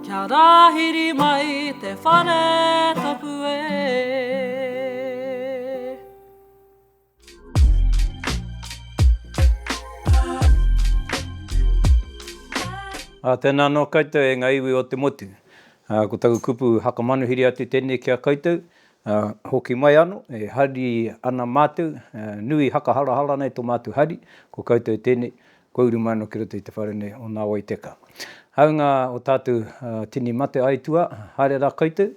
Kia rāhiri mai te whare tapu e. Ā, tēnā anō koutou e ngā iwi o te motu. Ā, ko taku kupu whakamanuhiri atu tēnei ki a koutou, ā, hoki mai anō, e hari ana mātou, ā, nui hakaharahara nei tō mātou hari, ko koutou tēnei, Kua uru mai ano ki roto i te whare nei o Nga Wai Teka. Haunga o tatou tini mate aitua, haere ra koutou,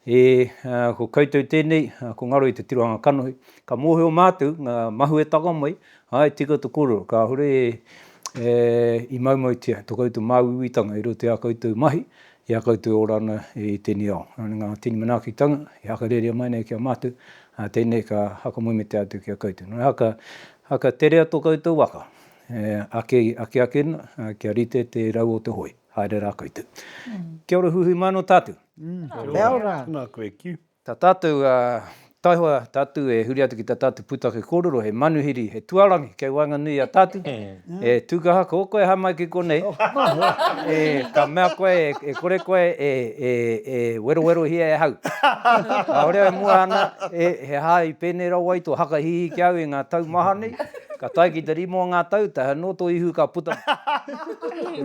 e ko koutou tenei, ko ngaro i te tirohanga kanohi, ka mohio matou nga mahuetanga mai, ae tika to korero, kahore e i maumautia to koutou māuiuitanga i roto i a koutou mahi, I a koutou e ora ana i tēnei ao. Nō ngā tini manaakitanga i hakarerea mai nei ki a mātou, ā, tēnei ka hakamoemetea atu ki a koutou. Nō reira, hakaterea tō koutou waka, e ake, ake ake ana, ā, kia rite te rau o te hoi. Haere rā koutou. Kia ora huihui māno tātou. Kia ora. Kia ora. Tēnā koe, Kiu. Tā tātou taihoa, tātou e huri atu ki tā tātou pūtake kōrero, he manuhiri, he tuarangi kei waenganui i a tātou. E Tūkaha, ko koe aha mai ki konei? Ka mea koe e kore koe e werowerohia e ahau. Kāore au e mua ana, he aha i pēnei rawa ai tō hakahihi ki a au i ngā tau maha nei? Ka tae ki te rima o ngā tau, tae anō tō ihu ka puta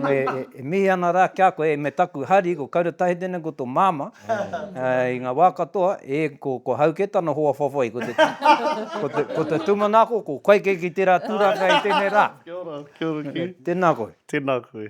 mai. E mihi ana rā ki a koe, me taku hari, ko Kaura Tahitene ko tō māmā, I ngā wā katoa, e, ko, ko Hauke tana hoa whawhai, ko te, ko te, ko te tūmanako, ko kai kei ki tērā tūranga i tēnei rā. Kia ora, kia ora ki. Tēnā koe. Tēnā koe.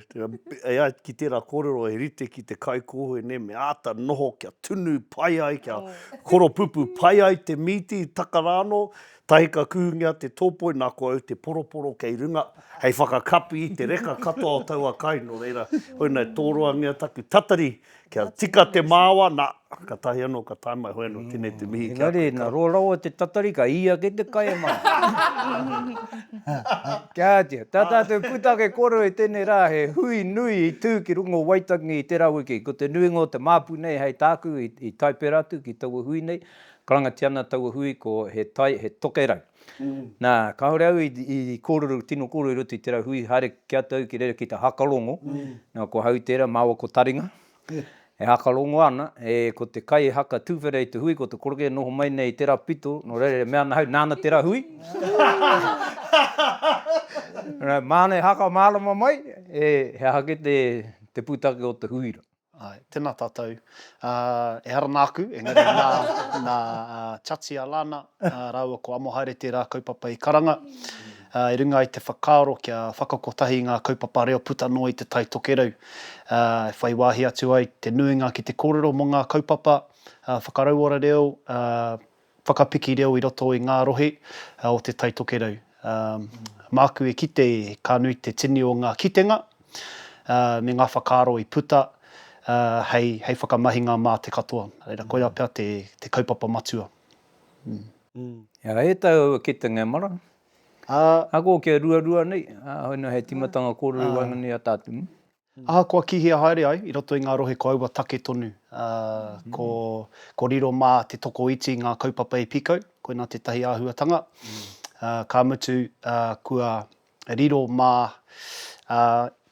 E ai ki tērā kōrero he rite ki te kaikōhē nei me āta noho kia tunu pai ai, kia koropupū pai ai te mīti, taka rānō, tahi ka kuhungia te tōpoi nā ko au te poroporo kei runga hei whakakapi i te reka katoa o taua kai, nō reira, koinei tōroangia taku tatari i. Kia tika te māoa, nā, ka tahi anō, ka tae mai, hoi anō, tēnei te mihi ki a koe. Engari, nā roa rawa te tatari, ka ī ake te kai e mā. Kia ātea, tā tātou pūtake kōrero i tēnei rā, he hui nui i tū ki runga o Waitangi i tērā wiki. Ko te nuinga o te māpu nei hei tāku i tae pērā atu ki taua hui nei, karangatia ana taua hui ko He Tai, He Tokerau. Nā, kāore au i kōrero, tino kōrero i roto i tērā hui, haere ki a tau ki reira ki te hakarongo. Nā, ko Hau tērā, māua ko Taringa, e hakarongo ana, e, ko te kai e haka tuwhera i te hui, ko te koroke e noho mai nei i tērā pito, nō reira e mea ana Hau, nāna tērā hui. Māna e hakamārama mai, he aha kē te pūtake o te hui rā. Āe, tēnā tātou. Ā, ehara nāku, engari nā, nā Chatia Lana rāua ko Amohaere tērā kaupapa i karanga, ā, i runga i te whakaaro kia whakakotahi ngā kaupapa reo puta noa i Te Tai Tokerau, ā, e whai wāhi atu ai te nuinga ki te kōrero mō ngā kaupapa, ā, whakarauora reo, ā, Whakapiki reo i roto i ngā rohe o Te Tai Tokerau. Māku e kite ka nui te tini o ngā kitenga me ngā whakaaro i puta hei whakamahinga mā te katoa. Reira, koirā pea te kaupapa matua. Ā, e taea au e kite ngā mara. Ā. Ahakoa kia ruarua nei, ā, hoi nō hei tīmatanga kōrero i waenganui i a tātou. Ahakoa kihia haere ai i roto i ngā rohe ko aua take tonu, ko riro mā te tokoiti ngā kaupapa e pīkau, koinā tētahi āhuatanga, ka mutu kua riro mā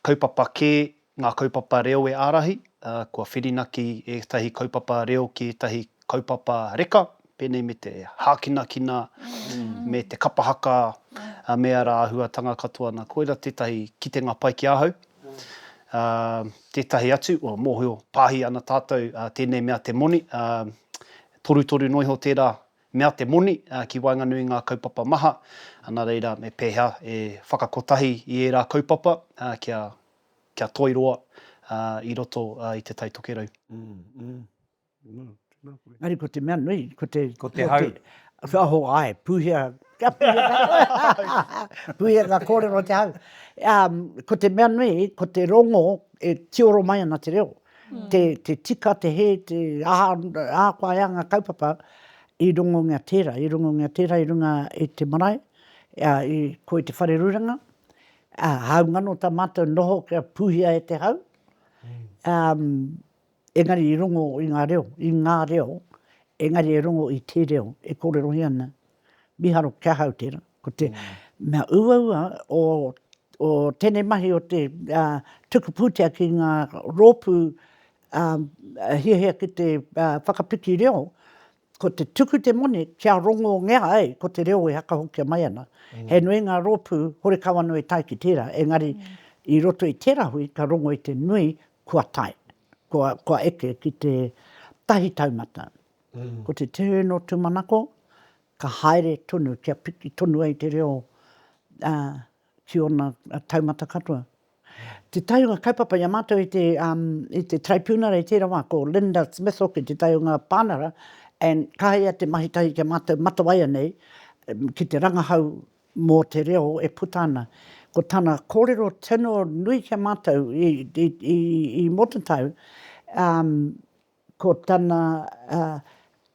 kaupapa kē ngā kaupapa reo e ārahi, kua whirinaki ētahi kaupapa reo ki ētahi kaupapa reka, pēnei me te hākinakina, me te kapa haka, me ara āhuatanga katoa nā, koira tētahi kitenga pai ki ahau. Tētahi atu, mōhio, pāhi ana tātou tēnei mea te moni, torutoru noa iho tērā mea te moni ki waenganui i ngā kaupapa maha, nā reira me pēhea e whakakotahi i ērā kaupapa kia toiroa i roto i Te Tai Tokerau. Engari ko te mea nui, ko te... Ko te hau. Oho, ae, puhia, kia puhia ka kōrero, puhia ka kōrero te hau. Ko te mea nui, ko te rongo e tioro mai ana te reo. Te tika, te hē, te aha, ahakoa e anga kaupapa, i rongongia tērā, i rongongia tērā i runga i te marae, ko i te whare ruranga, hau ngano tā mātou noho kia puhia e te hau, Engari i rongo i nga reo, i nga reo, engari e rongo i te reo e korerohia ana. Miharo kia hau tera, ko te mea uaua o o tenei mahi o te tuku putea ki nga ropu hiahia ki te whakapiki reo, ko te tuku te moni kia rongongea ai ko te reo e hakahokia mai ana. He nui nga ropu horekawa no e tae ki tera, engari i roto i tera hui ka rongo i te nui kua tae, kua, kua eke ki te tahi taumata. Ko te turn o Tumanako, ka haere tonu, kia piki tonu ai te reo ki ona taumata katoa. Tetahi o nga kaupapa i a matou i te, i te Taraipiunara i tera wa, ko Linda Smith hoki tetahi o nga panara, and kaha ia te mahi tahi ki a matou matawai anei, ki te rangahau mō te reo e puta ana. Ko tana kōrero tino nui ki a mātou i, i, i, i Motatau, um, ko tana, uh,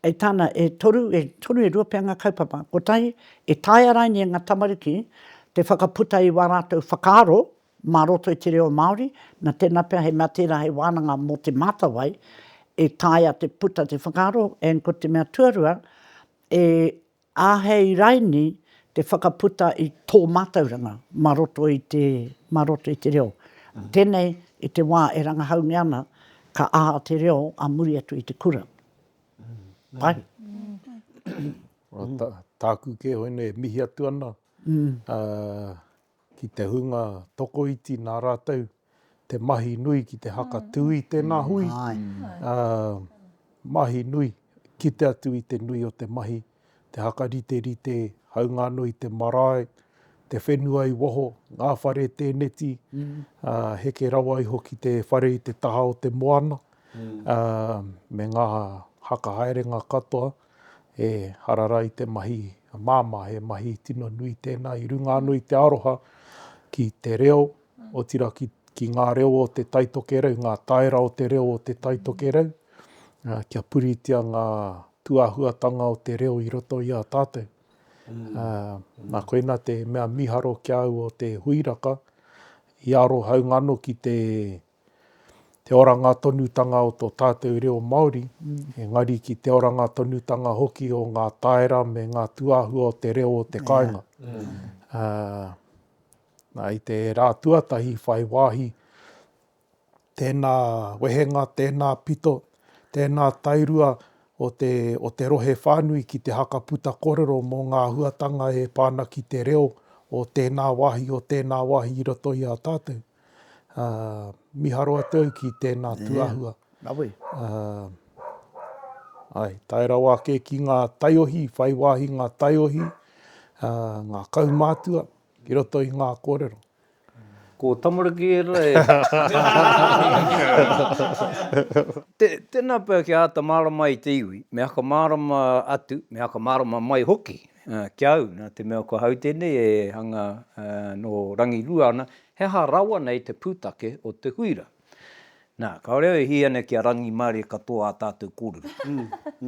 e tāna e toru, e toru e rua pea ngā kaupapa. Ko tahi, e taea raini e ngā tamariki te whakaputa i wā rātou whakaaro mā roto i te reo Māori, na tēnā pea he mea tērā he wānanga mō Te Mātawai, e taea te puta te whakaaro, and ko te mea tuarua, e Āhei raini te whakaputa i tō mātauranga mā roto i te, mā roto i te reo. Tēnei i te wā e rangahaungia ana ka aha te reo ā muri atu i te kura. Pai? Tāku kē hoinei e mihi atu ana, ki te hunga tokoiti nā rātou te mahi nui ki te hakatū i tēnā hui, mahi nui, kite atu i te nui o te mahi, te hakariterite, haunga anō i te marae, te whenua i waho, ngā whare tēneti, heke rawa iho ki te whare i te taha o te moana, me ngā haka haerenga katoa. e harara ai te mahi māmā, he mahi tino nui tēnā i runga anō i te aroha ki te reo, otirā ki, ki ngā reo o Te Tai Tokerau, ngā taera o te reo o Te Tai Tokerau, kia puritia ngā tūāhuatanga o te reo i roto i a tātou. Mm. Nā koina te mea miharo ki au o te huiraka, i aroha au ngano ki te te oranga tonutanga o tō tātou reo Māori, engari ki te oranga tonutanga hoki o ngā taera me ngā tūāhua o te reo o te kāinga. Yeah. Uh, I te rā tuatahi whai wāhi, tēnā wehenga, tēnā pito, tēnā tairua o te, o te rohe whānui ki te hakaputa korero mō ngā huatanga e pāna ki te reo o tēnā wāhi, o tēnā wāhi i roto i a tātou. Miharo atu au ki tēnā tuahua. Ae, tae rawa ake ki ngā taiohi, whai wāhi ngā taiohi, ngā kaumātua, ki roto i ngā kōrero. Ko Tamariki ērā e. Tēnā pea kia āta mārama ai te iwi, me whakamārama atu, me whakamārama mai hoki. Ki au, nā te mea ko hau tēnei e hanga nō rangirua ana, he aha rawa nei te pūtake o te huira? Nā, kāore au e hī ana kia rangimārie katoa ā tātou kōrero.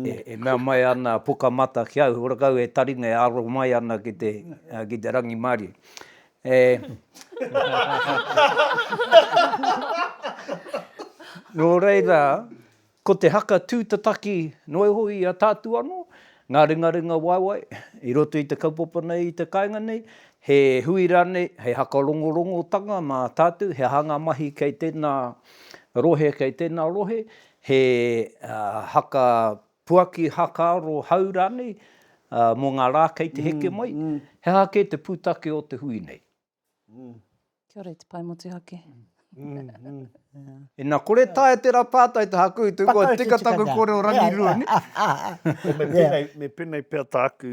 E mea mai ana a Pukamata ki au, he ora kau e taringa e aro mai ana ki te, ki te rangimārie. E. Nō reira, Ko te haka tūtataki noa iho i a tātou anō, ngā ringaringa waewae i roto i te kaupapa nei, i te kāinga nei, he hui rānei, hei haka rongorongotanga mā tātou, he aha ngā mahi kei tēnā rohe, kei tēnā rohe, he haka puaki, haka aro hau rānei mō ngā rā kei te heke mai, he aha kē te pūtake o te hui nei. Mm. Kia ora i te pae motuhake. Ina kore tae tera patai te haku i te ua tika taku kore o rangirua ni. Me penei, me penei pea taku.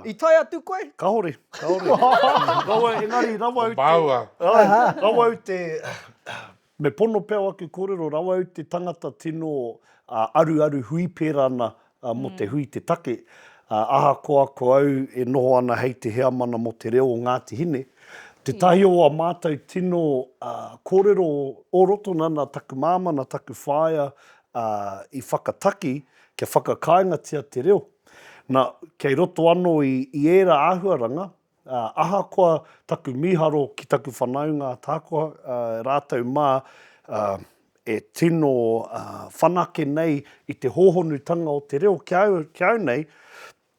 I tae atu koe? Kahore, kahore. Rawa engari rawa u te. Rawa u te. Me pono pea ake korero rawa au te tangata tino aruaru hui pera ana mo te hui te take. Ahakoa ko au e noho ana hei te heamana mo te reo o Ngati Hine, tetahi o a matou tino korero o roto nana taku mama na taku whaea i whakataki kia whakakaingatia te reo. Na, kei roto ano i era ahuaranga, Ā, ahakoa taku mīharo ki taku whanaunga ahakoa rātou mā e tino whanake nei i te hōhonutanga o te reo ki au nei,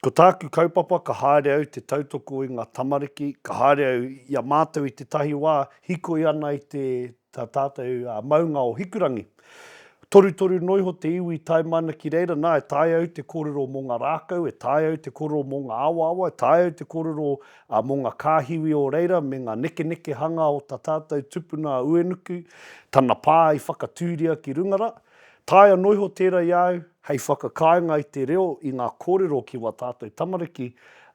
ko tāku kaupapa ka haere au te tautoko i ngā tamariki, ka haere au i a mātou i tētahi wā hikoi ana i te Tā tātou a Maunga o Hikurangi. Torutoru noa iho te iwi tae mai ana ki reira, nā, e taea au te kōrero mō ngā rākau, e taea au te kōrero mō ngā awaawa, e taea au te kōrero mō ngā kāhiwi o reira me ngā nekenekehanga o tā tātou tupuna a Uenuku, tana pā i whakatūria ki runga rā. Taea noa iho tērā i a au hei whakakāinga i te reo, i ngā kōrero ki wā tātou tamariki,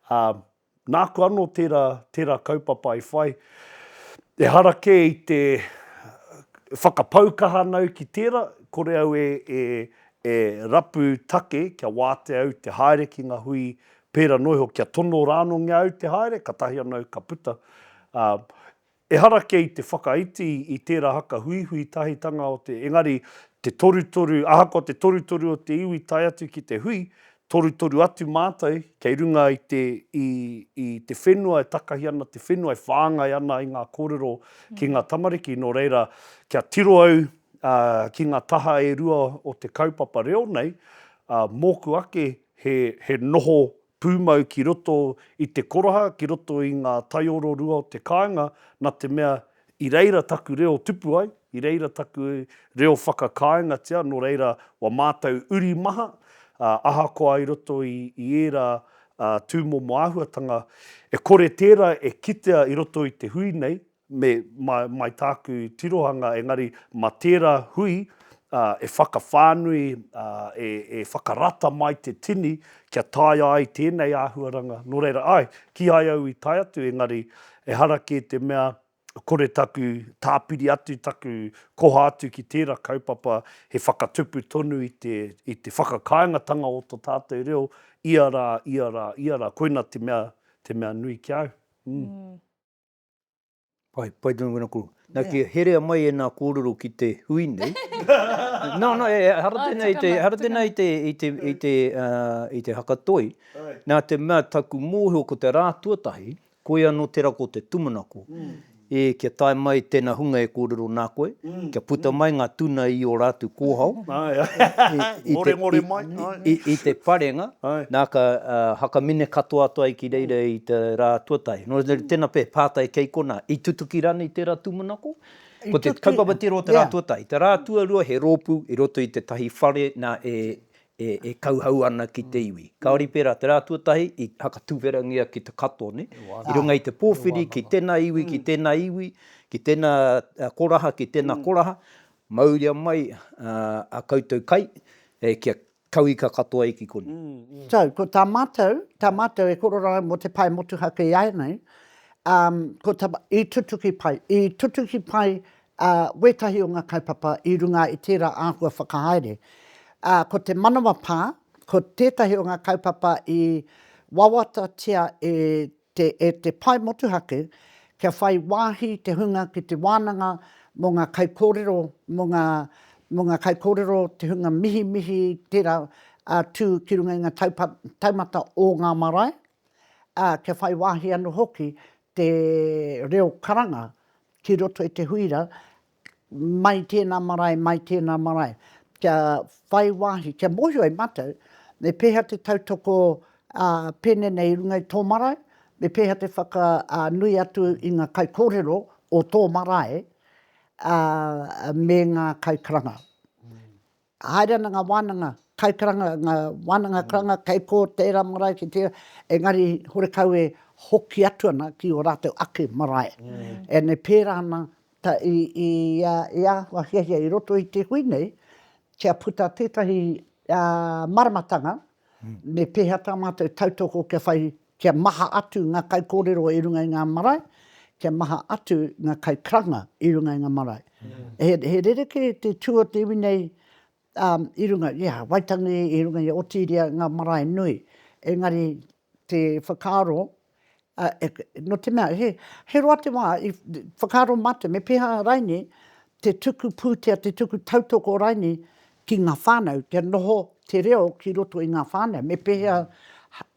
ā, Nāku anō tērā, tērā kaupapa i whai, ehara kē i te whakapau kaha ana au ki tērā, kore au e, e, e rapu take kia wātea au te haere ki ngā hui pērā noa iho, kia tono rānōngia au te haere, katahi anō ka puta. Ā, Ehara kei te whakaiti i tērā haka huihui tahitanga o te, engari te torutoru, ahakoa te torutoru o te iwi tae atu ki te hui, torutoru atu mātou kei runga i te, i, i te whenua e takahi ana, te whenua e whāngai ana i ngā kōrero ki ngā tamariki, nō reira, kia tiro au, ā, ki ngā taha e rua o te kaupapa reo nei, ā, mōku ake he, he noho pūmau ki roto i te koraha, ki roto i ngā taiororua o te kāinga, nā te mea, i reira taku reo tupu ai, i reira taku reo whakakāingatia, nō reira wa mātou uri maha, ā, ahakoa i roto i, i ērā, ā, tūmomo āhuatanga, e kore tērā e kitea i roto i te hui nei, me mai tāku tirohanga engari ma tērā hui e whakawhānui, e whakarata mai te tini kia taea ai tēnei āhuaranga, nō reira, āe, kīhai au i tae atu engari ehara kē te mea kore taku tāpiri atu, taku koha atu ki tērā kaupapa he whakatupu tonu i te, i te whakakāingatanga o to tātou reo ia rā, ia rā, ia rā, koina te mea, te mea nui ki a au. Umm. Pai, pai tonu wena kuru. Na ki herea mai e nā kōrero ki te hui nei. no, no, e, hara tēnā i te, hara tēnā i te, i te, i te, uh, i te hakatoi. Nā te mea taku mōhio ko te rā tuatahi, koia no te rako te tumanako. Mm. E, kia tae mai tēnā hunga e kōrero nā koe. kia puta mai nga tuna i o ratu kohao i te parenga na ka hakamine katoa atu ai ki reira i te ra tuatahi. No reira tena pe patai kei kona, i tutuki ranei tera tumanako? Ko te kaupapa tira o te ra tuatahi, te ra tuarua he ropu i roto i tetahi whare na e e kauhau ana ki te iwi. Kāore i pērā, te rā tuatahi i whakatuwherangia ki te katoa, nē, i runga i te pōwhiri ki tēnā iwi, ki tēnā iwi, ki tēnā koraha, ki tēnā koraha, mauria mai a koutou kai kia kauika katoa ai ki konei. So, ko tā mātou, tā mātou e korero ai mō te pae motuhake ēnei, ko tā mātou, i tutuki pai, i tutuki pai ā, wētahi o ngā kaupapa i runga i tērā āhua whakahaere. Ā, ko te manawa pā, ko tētahi o ngā kaupapa i wawatatia e te, e te pae motuhake, kia whai wāhi te hunga ki te wānanga mō ngā kaikōrero, mō ngā, mō ngā kaikōrero, te hunga mihimihi, tērā, ā, tū ki runga i ngā taupa, taumata o ngā marae, ā, kia whai wāhi anō hoki te reo karanga ki roto i te huira, mai tēnā marae, mai tēnā marae, kia whai wāhi, kia mōhio ai mātou, me pēhea te tautoko pēnei nei i runga i tō marae, me pēhea te whakanui atu i ngā kaikōrero o tō marae me ngā kaikaranga. Haere ana ngā wānanga kaikaranga, ngā wānanga karanga kei kō tērā marae ki tērā, engari horekau e hoki atu ana ki ō rātou ake marae. Ēnei pērā ana i āhua hiahia i roto i te hui nei kia puta tētahi māramatanga Me pēhea tā mātou tautoko kia whai, kia maha atu ngā kaikōrero i runga i ngā marae, kia maha atu ngā kaikaranga i runga i ngā marae. He rerekē te tū o te iwi nei i runga i a Waitangi, i runga i a Otiiria, ngā marae nui. Engari te whakaaro A, e, no te mea, he, he roa te wa, i whakaaro matou, me peha rainei te tuku putea, te tuku tautoko rainei ki nga whanau, kia noho te reo ki roto i nga whanau, me pehea,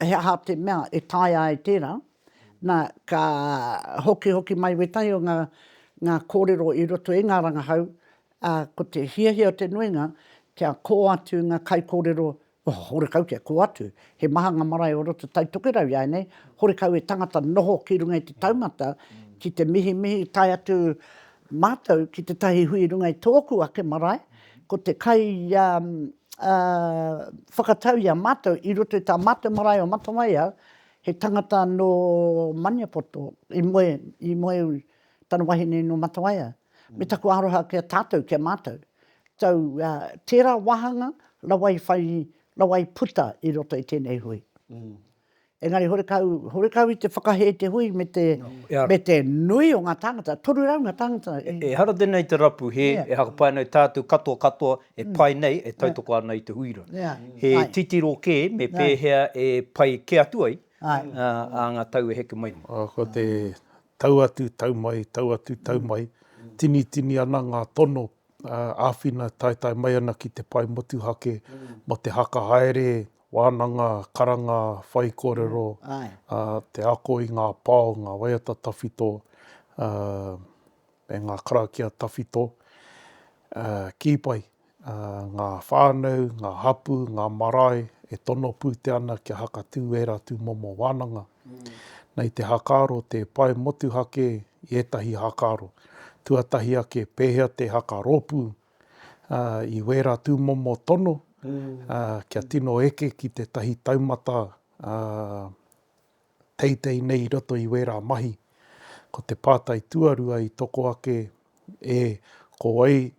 he aha te mea e taea ai tera, na, ka hokihoki mai wetahi o nga, nga korero i roto i nga rangahau, a, ko te hiahia o te nuinga, kia ko atu nga kaikorero Ohh, horekau kia kō atu. He maha ngā marae o roto Taitokerau iāinei, horekau e tangata noho ki runga i te taumata, ki te mihimihi tae atu mātou ki tētahi hui runga i tōku ake marae, ko te kai ia whakatau i a mātou i roto i tā mātou marae o Matawai au, he tangata nō Maniapoto i moe, i moe Tana wahine no Matawaia. Me taku aroha ki a tatou, ki a matou. Tau, tera wahanga rawa i whai, rawa i puta i roto i tenei hui. Engari horekau, horekau i te whakahe te hui me te, me te nui o nga tangata, toru rau nga tangata i. Ehara tenei te rapu he, e hakapai ana e tatou katoa katoa e pai nei, e tautoko ana i te hui ra. He titiro ke me pehea e pai ke atu ai a nga tau e heke mai nei. Ko te Tau atu, tau mai, tau atu, tau mai, tinitini ana ngā tono, āwhina taetae mai ana ki te pae motuhake mō te haka haere, wānanga, karanga, whai kōrero, te ako i ngā pao, ngā waiata tawhito me ngā karakia tawhito. Kī pai, ngā whānau, ngā hapū, ngā marae e tono pūtea ana kia hakatū ērā tūmomo wānanga. Nei te hakaaro tē pae motuhake i ētahi hakaaro. Tuatahi ake, pēhea te hakarōpū i wērā tūmomo tono kia tino eke ki tētahi taumata teitei nei i roto i wērā mahi. Ko te pātai tuarua i toko ake e, ko wai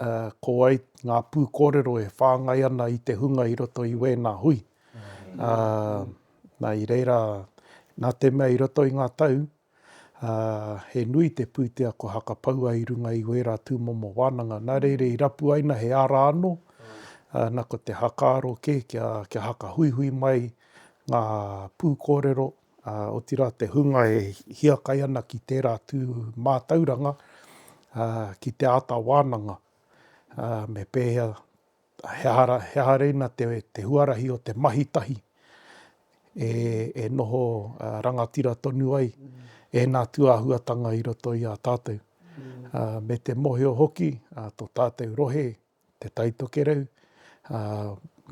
ā, ko wai ngā pū kōrero e whāngai ana i te hunga i roto i wēnā hui, ā, nā, i reira, nā te mea i roto i ngā tau, ā, he nui te pūtea kua hakapaua i runga i wērā tūmomo wānanga, nā reira i rapu ai na he ara anō, ā, na ko te hakaaro kē kia, kia hakahuihui mai ngā pū kōrero, ā, otirā te hunga e hiakai ana ki tērā tū mātauranga, ā, ki te āta wānanga, ā, me pēhea, he aha rā, he aha reina te, te huarahi o te mahi tahi e, e noho rangatira tonu ai ēnā tūāhuatanga i roto i a tātou, ā, me te mohio hoki, ā, tō tātou rohe Te Tai Tokerau, ā,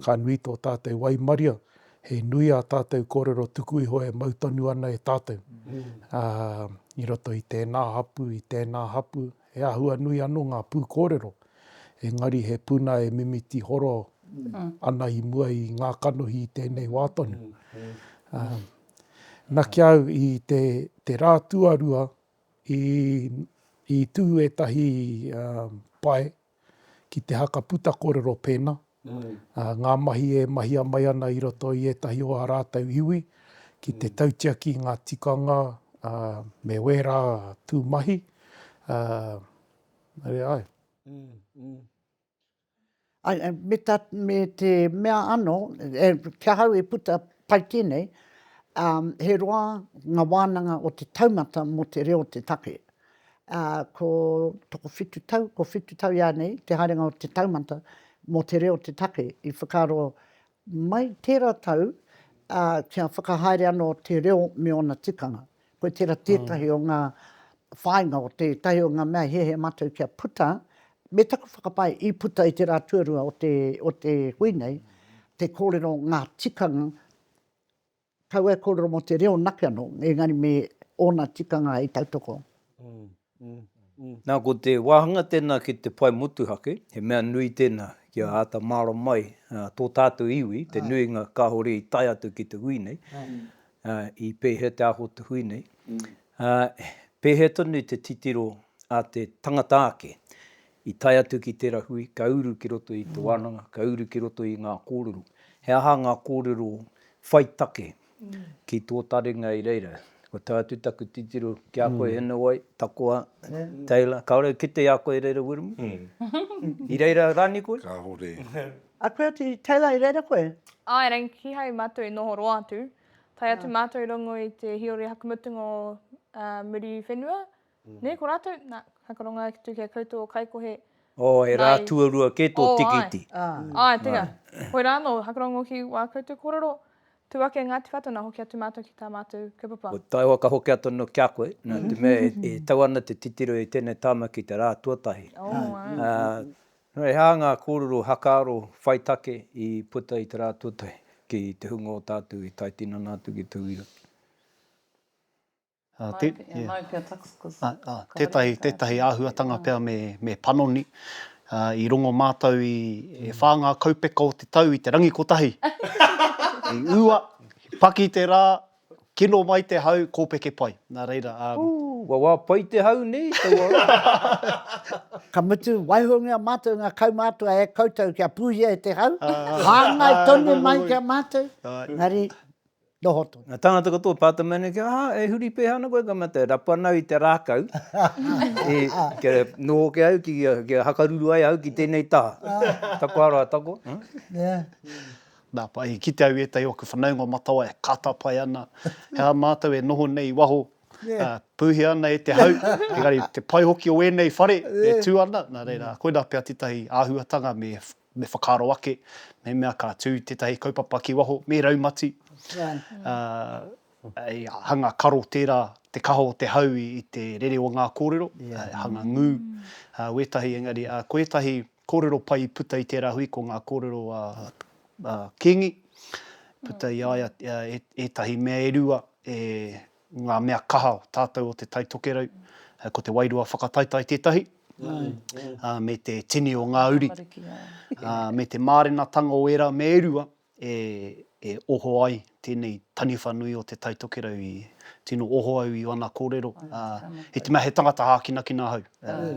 ka nui tō tātou waimaria, he nui ā tātou kōrero tuku iho e mau tonu ana e tātou. Ā, i roto i tēnā hapū, i tēnā hapū, he āhua nui anō ngā pūkōrero, engari he puna e mimiti horo ana i mua i ngā kanohi i tēnei wā tonu. Ā, na ki au i te, te rā tuarua i, i tū ētahi, ā, pae ki te haka puta korero pēna, ngā mahi e mahia mai ana i roto i ētahi o ā rātou iwi, ki te tautiaki i ngā tikanga me wērā tū mahi. Nare ai. Me te mea ano, ki ahau e puta pai tēnei, he roa ngā wānanga o te taumata mō te reo te take. ā, ko tokowhitu tau, ko whitu tau iānei te haerenga o te taumata mō te reo te take i whakaaro mai tērā tau, ā, kia whakahaere anō te reo me ōna tikanga. Koe tērā tētahi o ngā whāinga o tētahi o ngā mea he hē mātou kia puta, me taku whakapae i puta i te rā tuarua o te, o te hui nei, te kōrero ngā tikanga Kaua e kōrero mō te reo nake anō, engari me ōna tikanga e tautoko. Nā, ko te wāhanga tēnā ki te whai motuhake, he mea nui tēnā kia āta mārama ai tō tātou iwi, te nuinga kāore i tae atu ki te hui nei, i pēhea te aho o te hui nei, pēhea tonu te titiro a te tangata ake I tae atu ki tera hui, ka uru ki roto i te wananga, ka uru ki roto i nga korero. He aha nga korero whai take ki to taringa i reira? Kua tae atu taku titiro ki a koe Hinowai, Takoa, Taylor, kaore u kite i a koe i reira Wiremu? I reira rani koe? Kahore. A koe atu Taylor i reira koe? Ae, rei, kihai matou i noho roa atu. Tae atu matou i rongo i te hiori hakumutunga o Muriwhenua. Nei ko ratou, na, hai karonga atu ki a koutou o Kaikohe, Oh, he rā tuarua kē tō tīkiti. Oh, āe. Āe, tērā. Koirā anō, hai karongo ki wā koutou kōrero, tū ake e Ngāti Whātua, na, hoki atu mātou ki tā mātou kaupapa. Ko Taihoa ka hoki atu anō ki a koe, na, te mea e tau ana te titiro i tēnei tāmaki i te rā tuatahi. Oh, āe. Nō reira, he aha ngā kōrero hakaaro whai take i puta i te rā tuatahi ki te hunga o tātou i tai tinana atu ki tauira? Tētahi, tētahi āhuatanga pea me, me panoni, i rongo mātou i, e whā ngā kaupeka o te tau i te rangi kotahi. I ua, i paki te rā, kino mai te hau, kōpeke pai. Nā reira, ā. Ooh, wa wa pai te hau nei, taua rā. Ka mutu, waihongia mātou i ngā kaumātua e koutou kia pūhia e te hau, hāngai tonu mai ki a mātou, engari. Noho tonu. Nga tangata katoa pata mai nei, ah, e huri peha ana koe ka mate, rapu ana au i te rakau, kia noho ke au, kia hakaruru ai au ki tenei taha. Taku aroha tako. Na, i kite au i etahi o aku whanaunga o Matawai e katapae ana, he aha matou e noho nei i waho, puhia ana e te hau, engari te pai hoki o enei whare e tu ana, na reira, koina pea tetahi ahuatanga me me whakaaro ake mehemea ka tū tētahi kaupapa ki waho, me raumati, ā, i hanga karo tērā te kaha o te hau i te rere o ngā kōrero, hanga ngū, wētahi, engari, ā, ko ētahi kōrero pai i puta i tērā hui ko ngā kōrero a Kīngi, puta i a ia ētahi mea e rua e ngā mea kaha o tātou o Te Tai Tokerau, ko te wairua whakataetae tētahi, me te tini o ngā uri, me te mārenatanga o ērā mea e rua e oho ai tēnei taniwha nui o Te Tai Tokerau i tino oho au i ōna kōrero, i te mea he tangata hākinakina ahau,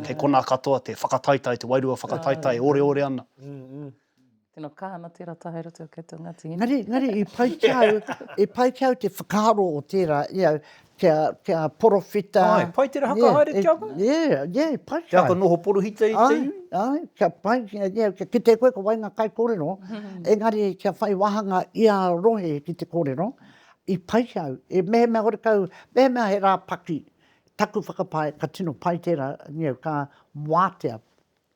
kei konā katoa te whakataetae, te wairua whakataetae e oreore ana. Tino kaha ana tera taha i roto i a koutou Ngati Hine. Ngari, ngari, i pai ki au, i pai ki au te whakaaro o tera, you know, kia, kia porowhita. Ai, pai tera whakahaere yeah, ki a koe? Yeah, yeah, pai ki au. Te aka noho porohita i te iwi? Ai, ai, kia pai, yeah, kia kite koe ko wai nga kai korero, engari kia whai wahanga i a rohe ki te korero, i pai ki au, e mehemea hore kau, mehemea he ra paki, taku whakapae, ka tino pai tera, you know, ka watea.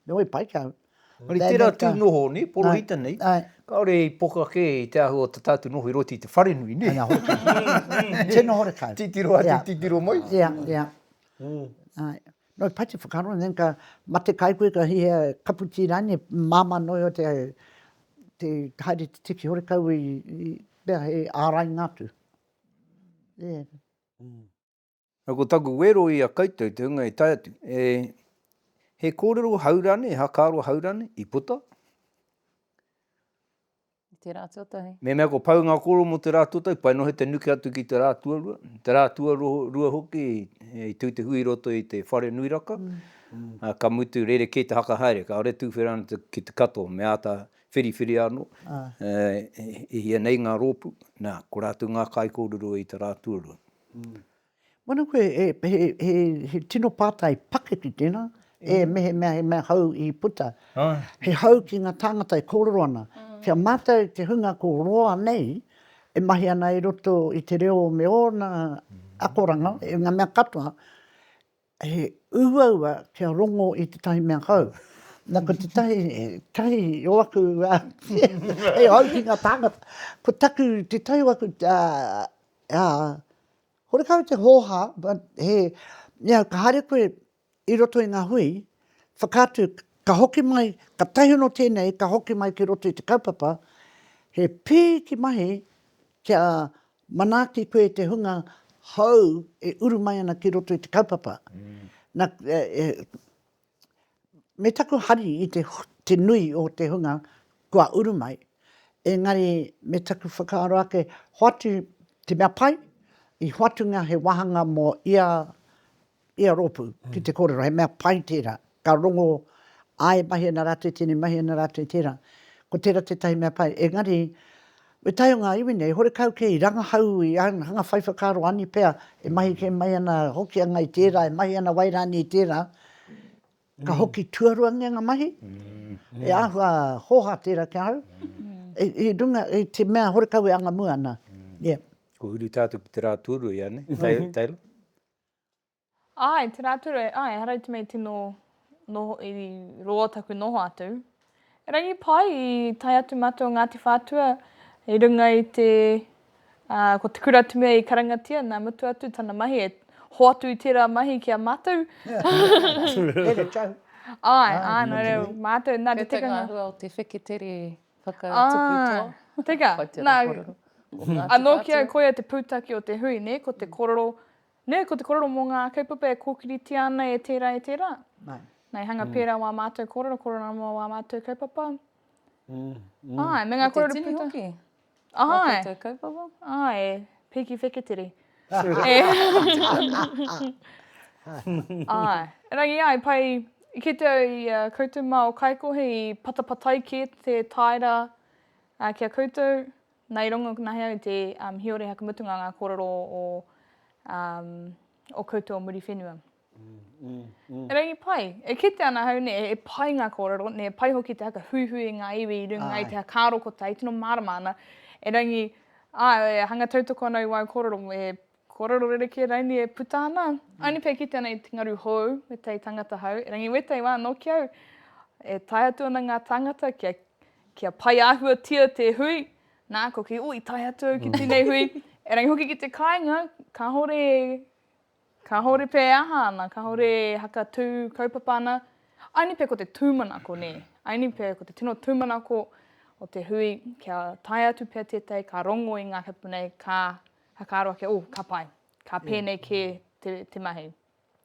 Me wai pai kau. Engari tērā tū noho nē, porohita nei, kāore i poka kē i te āhua o tā tātou noho i roto i te wharenui nē. Ana hoki. Tino horekau. Titiro atu, titiro mai. Ia, ia. Nō pai te whakaaro, and then ka mate kai koe, ka hihia kapu tī rānei, māmā noa iho te haere te tiki horekau i mea hei ārainga atu. Ia. Nō ko taku wero i a koutou te hunga e tae atu, e, he kōrero hau rānei, he hakaaro hau rānei i puta? I te rā tuatahi. Me mea ko pau ngā kōrero mō te rā tuatahi, pai noa he te nuke atu ki te rā tuarua, te rā tuarua hoki i tū te hui i roto i te whare nui raka, ā, ka mutu rerekē te haka haere, kāore e tūwhera ana ki te katoa, me āta whiriwhiri anō, e, e hia nei ngā rōpū, nā, ko rātou ngā kaikōrero i te rā tuarua. Mana koe, he tino pātai pakeke tēnā, e mehemea he mea hou i puta, he hou ki ngā tāngata e kōrero ana, ki a mātou te hunga ko roa nei e mahi ana i roto i te reo me ōna akoranga, i ngā mea katoa, He uaua kia rongo i tētahi mea hou. Na, ko tētahi, tahi o aku, hei hou ki ngā tāngata, ko taku, tētahi o aku, horekau te hōhā, he, ia, ka haere koe i roto i ngā hui, whakaatu, ka hoki mai, ka tahi anō tēnei, ka hoki mai ki roto i te kaupapa, he pēhi ki mahi kia Manaaki koe te hunga hou e uru mai ana ki roto i te kaupapa. Na, me taku hari i te, te nui o te hunga kua uru mai, engari me taku whakaaro ake, hoatu te mea pai, i hoatunga he wāhanga mō ia Ia rōpū, ki te kōrero, he mea pai tērā, ka rongo āe mahi ana rātou, tēnei mahi ana rātou i tērā. Ko tērā tētahi mea pai, engari, me taea ngā iwi nei, horekau kē i rangahau, i hanga whai whakaaro ani pea, e mahi kē mai ana Hokianga i tērā, e mahi ana Wairānia i tērā, ka hoki tuaruangia ngā mahi, he āhua hōhā tērā ki ahau, i runga i te mea horekau e angamua ana. Ko Urutaatu ki te rā tūruhi, ae nei, Taylor? Āe, tērā atu, āe, ehara i te mea i tino noho, i roa taku noho atu. Erangi pai, i tae atu mātou o Ngāti Whātua i runga i te, ā, ko te kura te mea i karangatia, nā mutu atu tana mahi e hoatu i tērā mahi ki a mātou. Here tau. Āe, āe, nō reira, mātou, nā te tikanga. Te tangahua o te wheketere Whakatupu to. Teka, na, ano ki au koia te putaki o te hui, ne, ko te korero, ne, ko te korero mo nga kaupapa e kokiritia ana e tera, e tera. Na, i hanga pera wa matou korero, korero ana mo wa matou kaupapa. Aye, me nga korero putaki. Ko te tini hoki. Ai. Ā koutou kaupapa? Ā e Piki Wheketiri. Ā, erangi ai, pai i kite au i a koutou mā o Kaikohe i patapatai kē te tāera ki a koutou. Nā, i rongo nahe au i te Hiore Hakamutunga ngā kōrero o koutou o Muriwhenua. Erangi pai. E kite ana ahau ne, e pai nga korero, ne pai hoki te haka huihui i nga iwi i runga i te hakarokotai i tino marama ana. Erangi, ah, e hanga tautoko ana i wau korero, e korero rerekē raini e puta ana. Aoni pea e kite ana i te ngaru hou, wetai tangata hau, erangi wetai wa no ki au, e tae atu ana nga tangata kia, kia pai ahuatia te hui, na, ko kei, oh, i tae atu au ki tenei hui, erangi hoki ki te kainga, kahore e Kahore pea e aha ana, kahore e hakatū kaupapa ana, aini pea ko te tūmanako, nē, aini pea ko te tino tūmanako o te hui kia tae atu pea tētahi ka rongo i ngā kupu nei, ka whakaaro ake, oh, ka pai, ka pēnei kē te, te mahi.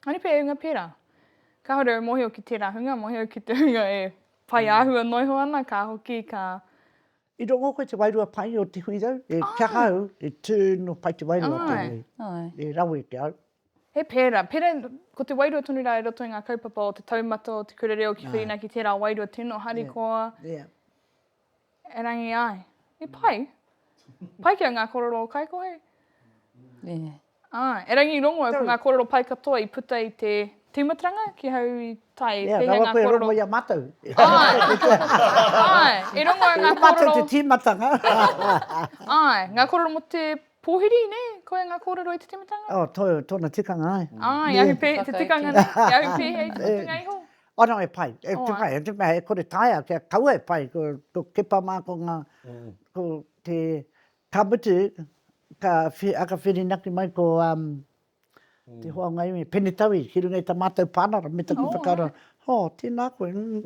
Aini pea e unga pērā. Kahore au mōhio ki tērā hunga, mōhio ki te hunga e whai āhua noiho ana, ka hoki, ka I rongo koe te wairua pai o Te Huirau, e kaha au, e tū no pai te wairua tēnei, e rawe te au. He pērā, pērā, ko te wairua tonu rā i roto i ngā kaupapa o te taumata, o te kura reo ki whirinaki tērā wairua tino harikoa, erangi ai, he pai, pai ki au ngā kororo o Kaikohe. Ā, erangi rongo au ko ngā kōrero pai katoa i puta i te tīmataranga ki hau i tae pēhea ngā kōrero. Ia, rawa koe e rongo i a mātou. Āe, e rongo au ngā kōrero. Ko mātou te tīmatanga. Āe, ngā kōrero mō te pōhiri, nē, koia ngā kōrero i te tīmatanga? Ō, tō, tōna tikanga ai. Āe, i ahu pē, te tikanga nei, i ahu pēhea i te mutunga iho? Ō, nō, e pai, e pai, e te mea e kore taea kia kaua e pai, ko Kepa mā, ko ngā, ko te Ka mutu, ka aka whirinaki mai ko te hoa o ngā iwi, Pene Tauī, ki runga i tā mātou pānara me taku whakaaro, hō, tēnā koe, umm.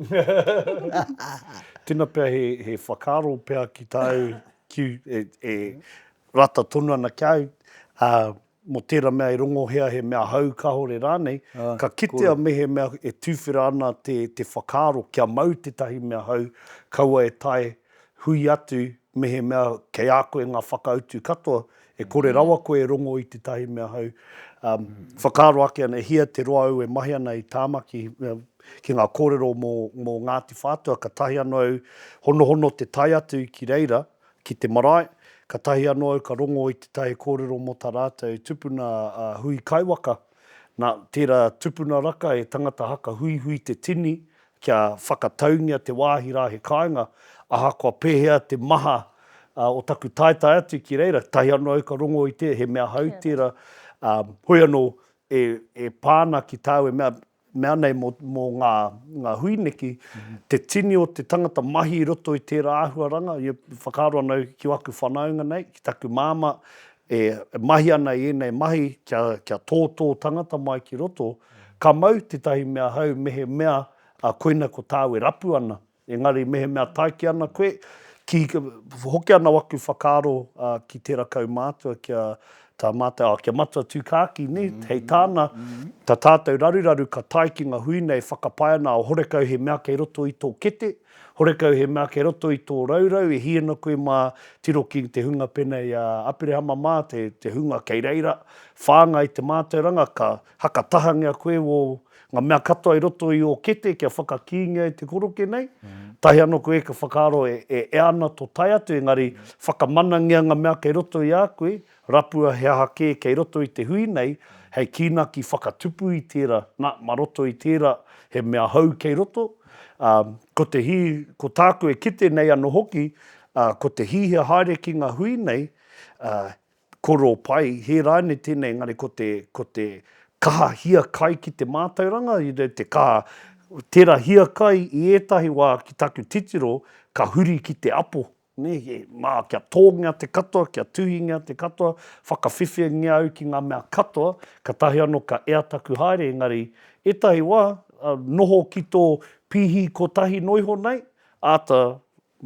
Tena pea he whakaaro pea ki tāu, e rata tonu ana ki au, mō tērā mea e rongohia he mea hou kāore rānei, ka kitea mehemea e tuwhera ana te whakaaro kia mau tētahi mea hou, kaua e tae hui atu mehemea kei a koe ngā whakautu katoa, e kore rawa koe e rongo i tētahi mea hou. Whakaaro ake ana, e hia te roa au e mahi ana i Tāmaki ki ngā kōrero mō Ngāti Whātua, ka tahi anō au honohono te tae atu ki reira, Ki te marae, katahi anō au ka rongo i tētahi kōrero mō tā rātou tupuna a Hui Kaiwaka, nā, tērā tupuna raka he tangata haka huihui te tini kia whakataungia te wāhi rā he kāinga, ahakoa pēhea te maha o taku taetae atu ki reira, katahi anō au ka rongo i te, he mea hau tērā, hoi anō, e pā ana ki tāu e mea, mea nei mō, mō ngā, ngā hui neki, te tini o te tangata mahi i roto i tērā āhuaranga, i whakaaro ana au ki aku whanaunga nei, ki taku māmā, e mahi ana i ēnei mahi kia, kia tō tō tangata mai ki roto, ka mau tētahi mea hau mehemea koina ko tāu e rapu ana. Engari mehemea taiki ana koe, ki, hoki ana waku whakaaro ki tera kaumātua kia tā mātou, oh, kia Matua Tūkākī, nē, hei tāna, tā tātou raruraru ka tae ki nga hui nei whakapae ana, oh, horekau he mea kei roto i tō kete, horekau he mea kei roto i tō raurau, e hiena koe mā tiro ki te hunga penei a Aperehama mā, te, te hunga kei reira, whāngai te mātauranga, ka. Haka tahangia koe o nga mea katoa i roto i o kete kia whakakīngia e te koroke nei. Tahi ano koe ka whakaaro e ea ana to tae atu engari whakamanangia nga mea kei roto i a koe, rapua he aha ke kei roto i te hui nei hei kīnaki whakatupu i tera, na, ma roto i tera he mea hou kei roto, a, ko te hi, ko tāku e kite nei ano hoki, a, ko te hihia haere ki nga hui nei, a, Koro pai, hē rānei tēnei engari ko te, ko te kaha hiakai ki te mātauranga, te kaha tera hiakai i ētahi wā ki taku titiro ka huri ki te apo, nē, mā, kia tōngia te katoa, kia tuhingia te katoa, whakawhiwhingia au ki ngā mea katoa, katahi anō ka ea taku haere engari ētahi wā noho ki tō pīhi kotahi noa iho nei, āta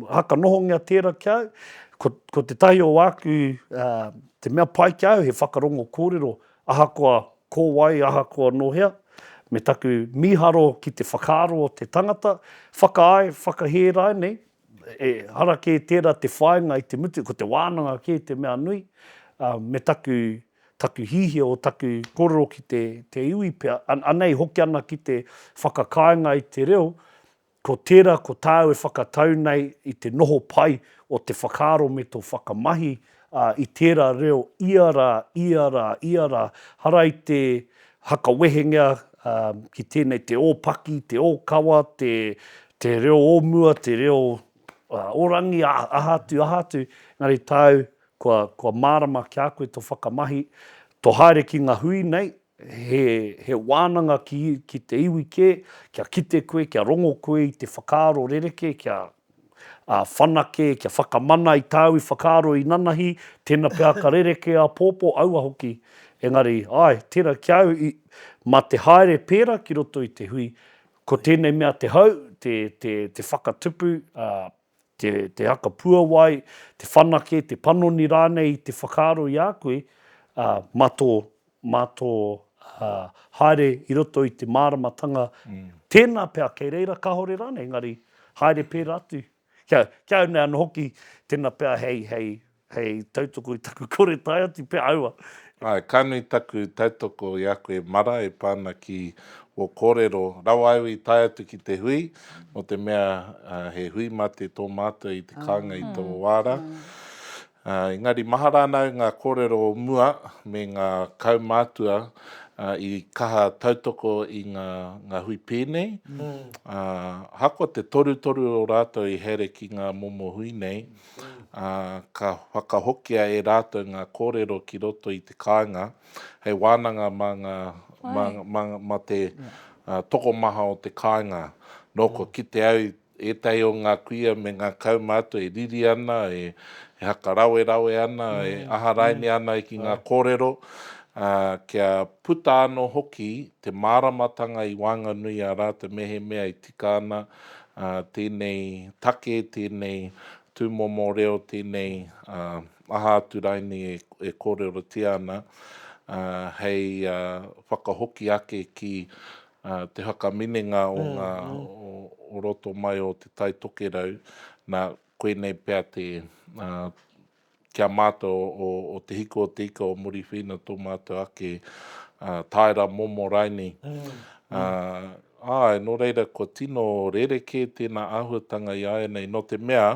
Haka nohongia tērā ki a au. Ko, ko tētahi o āku, ā, te mea pai ki a au he whakarongo kōrero, ahakoa ko wai, ahakoa nō hea, me taku mīharo ki te whakaaro o te tangata, whakaae, whakahē rānei, ehara kē tērā te whāinga i te mutu, ko te wānanga kē te mea nui, ā, me taku, taku hihia o taku kōrero ki te, te iwi pea, a, anei hoki ana ki te whakakāinga i te reo, Ko tērā ko tāu e whakatau nei i te noho pai o te whakaaro me tō whakamahi, ā, i tērā reo ia rā, ia rā, ia rā, hara i te hakawehengia ki tēnei te ōpaki, te ōkawa, te, te reo o mua, te reo o rangi, aha atu, aha atu, engari tāu kua, kua mārama ki a koe tō whakamahi, tō haere ki ngā hui nei, he wānanga ki te iwi kē, kia kite koe, kia rongo koe i te whakaaro rerekē, kia whanake, kia whakamana i tāu i whakaaro inanahi, tēnā pea ka rerekē āpōpō, aua hoki. Engari, āe, tērā ki a au, mā te haere pērā ki roto i te hui, ko tēnei mea te hau, te whakatupu, te, te haka puawai, te whanake, te panoni rānei i te whakaaro i a koe, ā, mā tō, mā tō ā, haere i roto i te māramatanga, tēnā pea kei reira kāore rānei, engari haere pērā atu. Kia, kia au nei anō hoki, tēnā pea hei, hei Hei tautoko i taku kore tae atu pea aua. Ae, ka nui taku tautoko i a koe Mara e pa ana ki wo korero rawa au i tae atu ki te hui, no te mea he hui mate to matua i te kaunga i to wa ra. Engari mahara ana au nga korero o mua me nga kaumatua i kaha tautoko i nga hui penei, ahakoa te torutoru o ratou i haere ki nga momo hui nei, ā, ka whakahokia e rātou ngā kōrero ki roto i te kāinga hei wānanga mā ngā, mā, mā, mā te uh, tokomaha o te kāinga. Nō kua kite au ētahi o ngā kuia me ngā kaumātua e riri ana, e, e hakarawerawe ana, e mm, aharaine mm. ana ki ngā kōrero, ā, kia puta anō hoki te māramatanga i waenganui a rātou mehemea i tika ana tēnei take, tēnei tūmomo reo, tēnei aha atu rainei e kōrerotia ana, hei whakahoki ake ki te whakaminenga o ngā, o roto mai o Te Tai Tokerau, nā, koinei pea te ki a mātou o o Te Hiko o Te Ika o Muriwhiina tō mātou ake tāera momo raini. Āe, nō reira kua tino rerekē tēnā āhuatanga i āianei nō te mea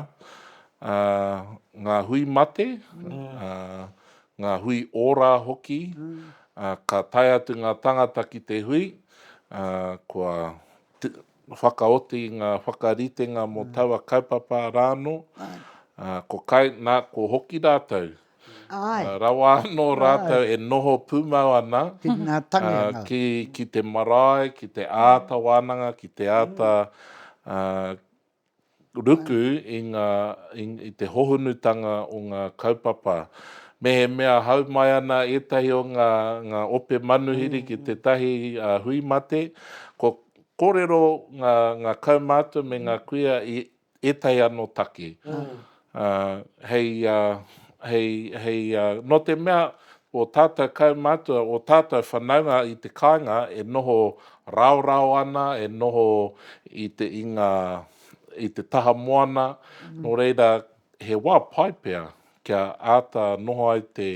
ngā hui mate, ngā hui ōrā hoki, ka tae atu ngā tāngata ki te hui, kua whakaoti i ngā whakaritenga mō taua kaupapa rānō, ā, ko kai, nā, ko hoki rātou, ā, rawa anō rātou e noho pūmau ana, ā, ki, ki te marae, ki te āta wānanga, ki te āta, ā, ruku i ngā, i te hohunutanga o ngā kaupapa. Mehemea hau mai ana ētahi o ngā, ngā ope manuhiri ki tētahi hui mate, kua kōrero ngā, ngā kaumātua me ngā kuia i ētahi anō take. Ā, hei, ā, hei, hei, ā, nō te mea ō tātou kaumātua, ō tātou whanaunga i te kāinga e noho raorao ana, e noho i te, i ngā, i te taha moana, nō reira, he wā pai pea kia āta noho ai te,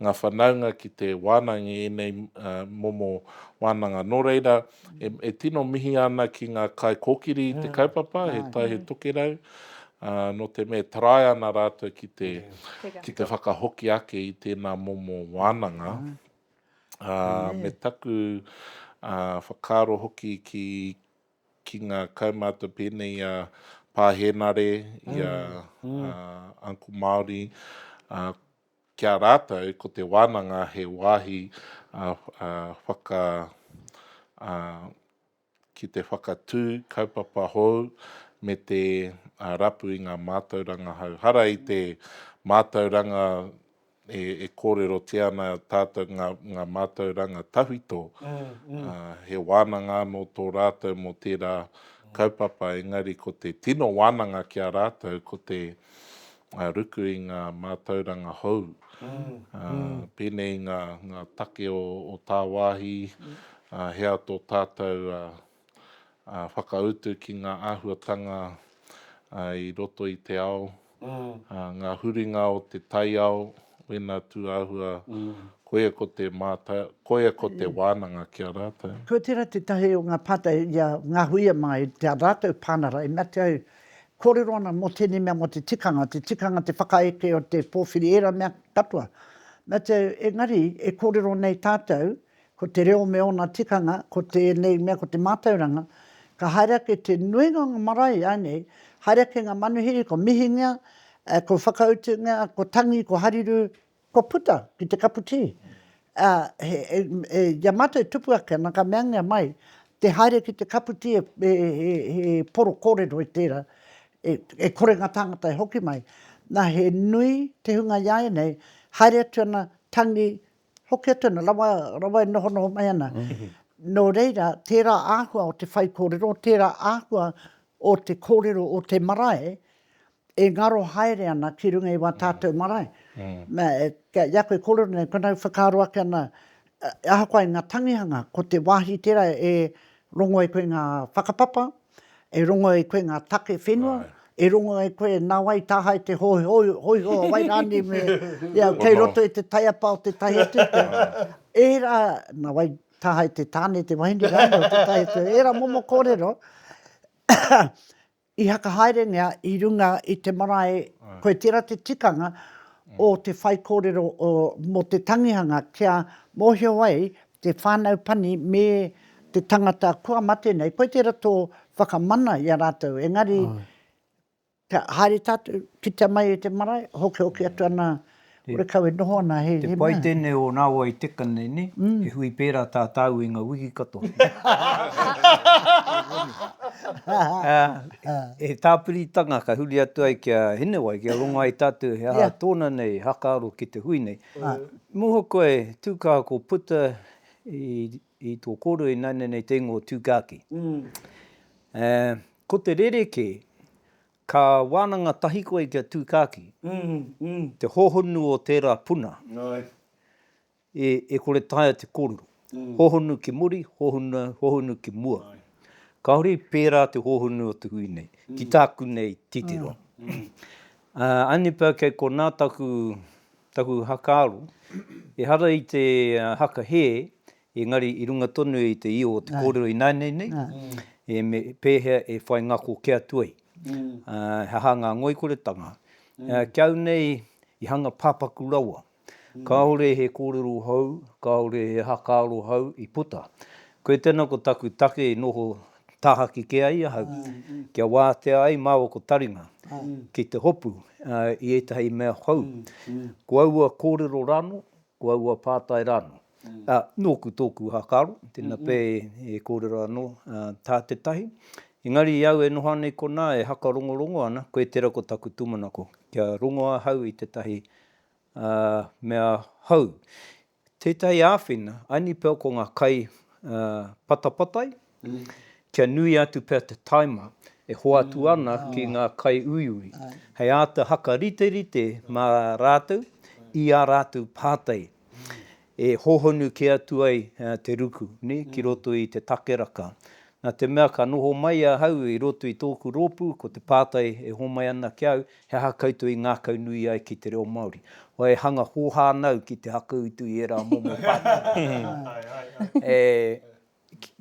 ngā whanaunga ki te wānanga i ēnei, ā, momo wānanga. Nō reira, E tino mihi ana ki ngā kaikōkiri i te kaupapa, he tai, he tokerau, nō te mea e tarai ana rātou ki te, ki te whakahoki ake i tēnā momo wānanga. Me taku whakaaro hoki ki, ki ngā kaumātua pēnei i a Pā Hēnare, i a Uncle Māori, Ki a rātou, ko te wānanga he wāhi whaka, ki te whakatū kaupapa hou me te rapu i ngā mātauranga hou. Hara i te mātauranga e kōrerotia ana tātou ngā mātauranga tawhito, he wānanga anō tō rātou mō tērā kaupapa, engari ko te tino wānanga ki a rātou ko te ngā ruku i ngā mātauranga hou, pēnei i ngā take o tāwāhi, he aha tō tātou whakautu ki ngā āhuatanga i roto i te ao, ngā huringa o te taiao, wēnā tū āhua, koia ko te mātau, koia ko te wānanga ki a rātou. Kua tērā tētahi o ngā pātai i a Ngahuia mā i tā rātou pānara, e mea atu au, Kōrero ana mō tēnei mea mō te tikanga, te tikanga, te whakaeke o te pōwhiri, ērā mea katoa. Na te, engari, e kōrero nei tātou, ko te reo me ōna tikanga, ko tēnei mea, ko te mātauranga, ka haere ake te nuinga o ngā marae ānei, haere ake ngā manuhiri, ko Mihinga, ko Whakautunga, ko Tangi, ko Hariru, Kua puta ki te kapu tī. Ā, he, e, i a mātou e tupu ake ana, ka meangia mai, te haere ki te kapu tī e, e, he, he poro kōrero i tērā, e, e kore ngā tāngata e hoki mai. Nā, he nui te hunga i a ēnei, haere atu ana, tangi, hoki atu ana, rawa, rawa e nohonoho mai ana. Nō reira, tērā āhua o te whaikōrero, tērā āhua o te kōrero o te marae, e ngaro haere ana ki runga i wā tātou marae. Nā, i a koe kōrero nei, koinā e whakaaro ake ana, ahakoa i ngā tangihanga, ko te wāhi tērā e rongo ai koe i ngā whakapapa, e rongo ai koe i ngā take whenua, e rongo ai koe nā wai i taha ai te hōiho, wai rānei me, ia, kei roto i te taiapa o tētahi atu, ērā, nā wai i taha ai te tāne, te wahine rānei o tētahi atu, ērā momo kōrero, I whakahaerengia i runga i te marae koe tera te tikanga o te whaikōrero mō te tangihanga kia mōhio ai te whānau pani me te tangata kua mate nei koe tera tō whakamana i a rātou engari kia haere tātou kitea mai e te marae hokihoki atu ana Kore kau e noho ana he mea. Te pai tenei o na wai teka nei ne, he hui pera ta tau i nga wiki katoa. He tapiritanga ka huri atu ai ki a Hinewai kia rongo ai tatu he aha tona nei hakaaro ki te hui nei. Muha koe tu kaha ko puta i to koro i naina nei te ingoa Tukaki. Ko te rereke Ka wānanga tahi koe ki a Tūkāki, te hōhonu o tērā puna, e kore taea te kōrero. Hōhonu ki muri, hōhonu ki mua. Kāore i pērā te hōhonu o te hui nei, ki tāku nei titiro. Anipā kei konā taku haka aro, ehara i te haka hē, Engari i runga tonu i te io o te kōrero ināianei nei, e me pēhea e whai ngako ke atu ai, he aha ngā ngoikoretanga. Ki au nei i hanga pāpaku rawa, kāore he kōrero hou, kāore he hakaaro hou i puta. Koe tēnā ko taku take i noho tāhaki kē ai ahau, kia wātea ai māua ko taringa ki te hopu i ētahi mea hou. Ko aua kōrero rānō, Ko aua pātai rānō. Ā, nōku tōku whakaaro, tēnā pea e kōrero anō tā te tahi. Engari i au e noho ana i konā e hakarongorongo ana, koe tērā ko taku tūmanako, kia rongo ahau i tētahi mea hou. Tētahi āwhina, aini pea ko ngā kai patapatai, kia nui atu pea te taima e hoatu ana ki ngā kaiuiui, hei āta whakariterite mā rātou i ā rātou pātai e hōhonu kē atu ai te ruku ki roto i te takeraka. Nā te mea ka noho mai ahau i roto i tōku rōpū, ko te pātai e hōmai ana ki a au, he aha koutou i ngākaunui ai ki te reo Māori? Wā e hanga hōhā ana au ki te hakautu i ērā momo pātai.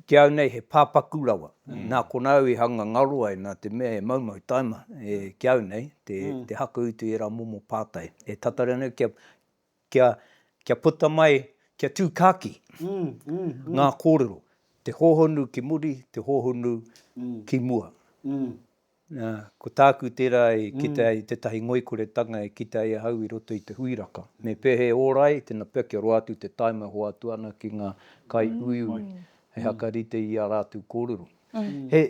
Ki au nei he pāpaku rawa. Nā konā au i hanga ngaro ai nā te mea he maumau taima ki au nei te hakuutu i ērā momo pātai e tata reo nei kia puta mai, kia tū kāki ngā kōrero, te hōhonu ki muri, te hōhonu ki mua. Nā, ko tāku tērā e kite ai tētahi ngoikoretanga e kite ai ahau i roto i te hui raka. Me pehe ora ai tēnā pea kia roa atu te taima e hoatu ana ki ngā kaiuiui hei hakarite i ā rātou kōrero. He,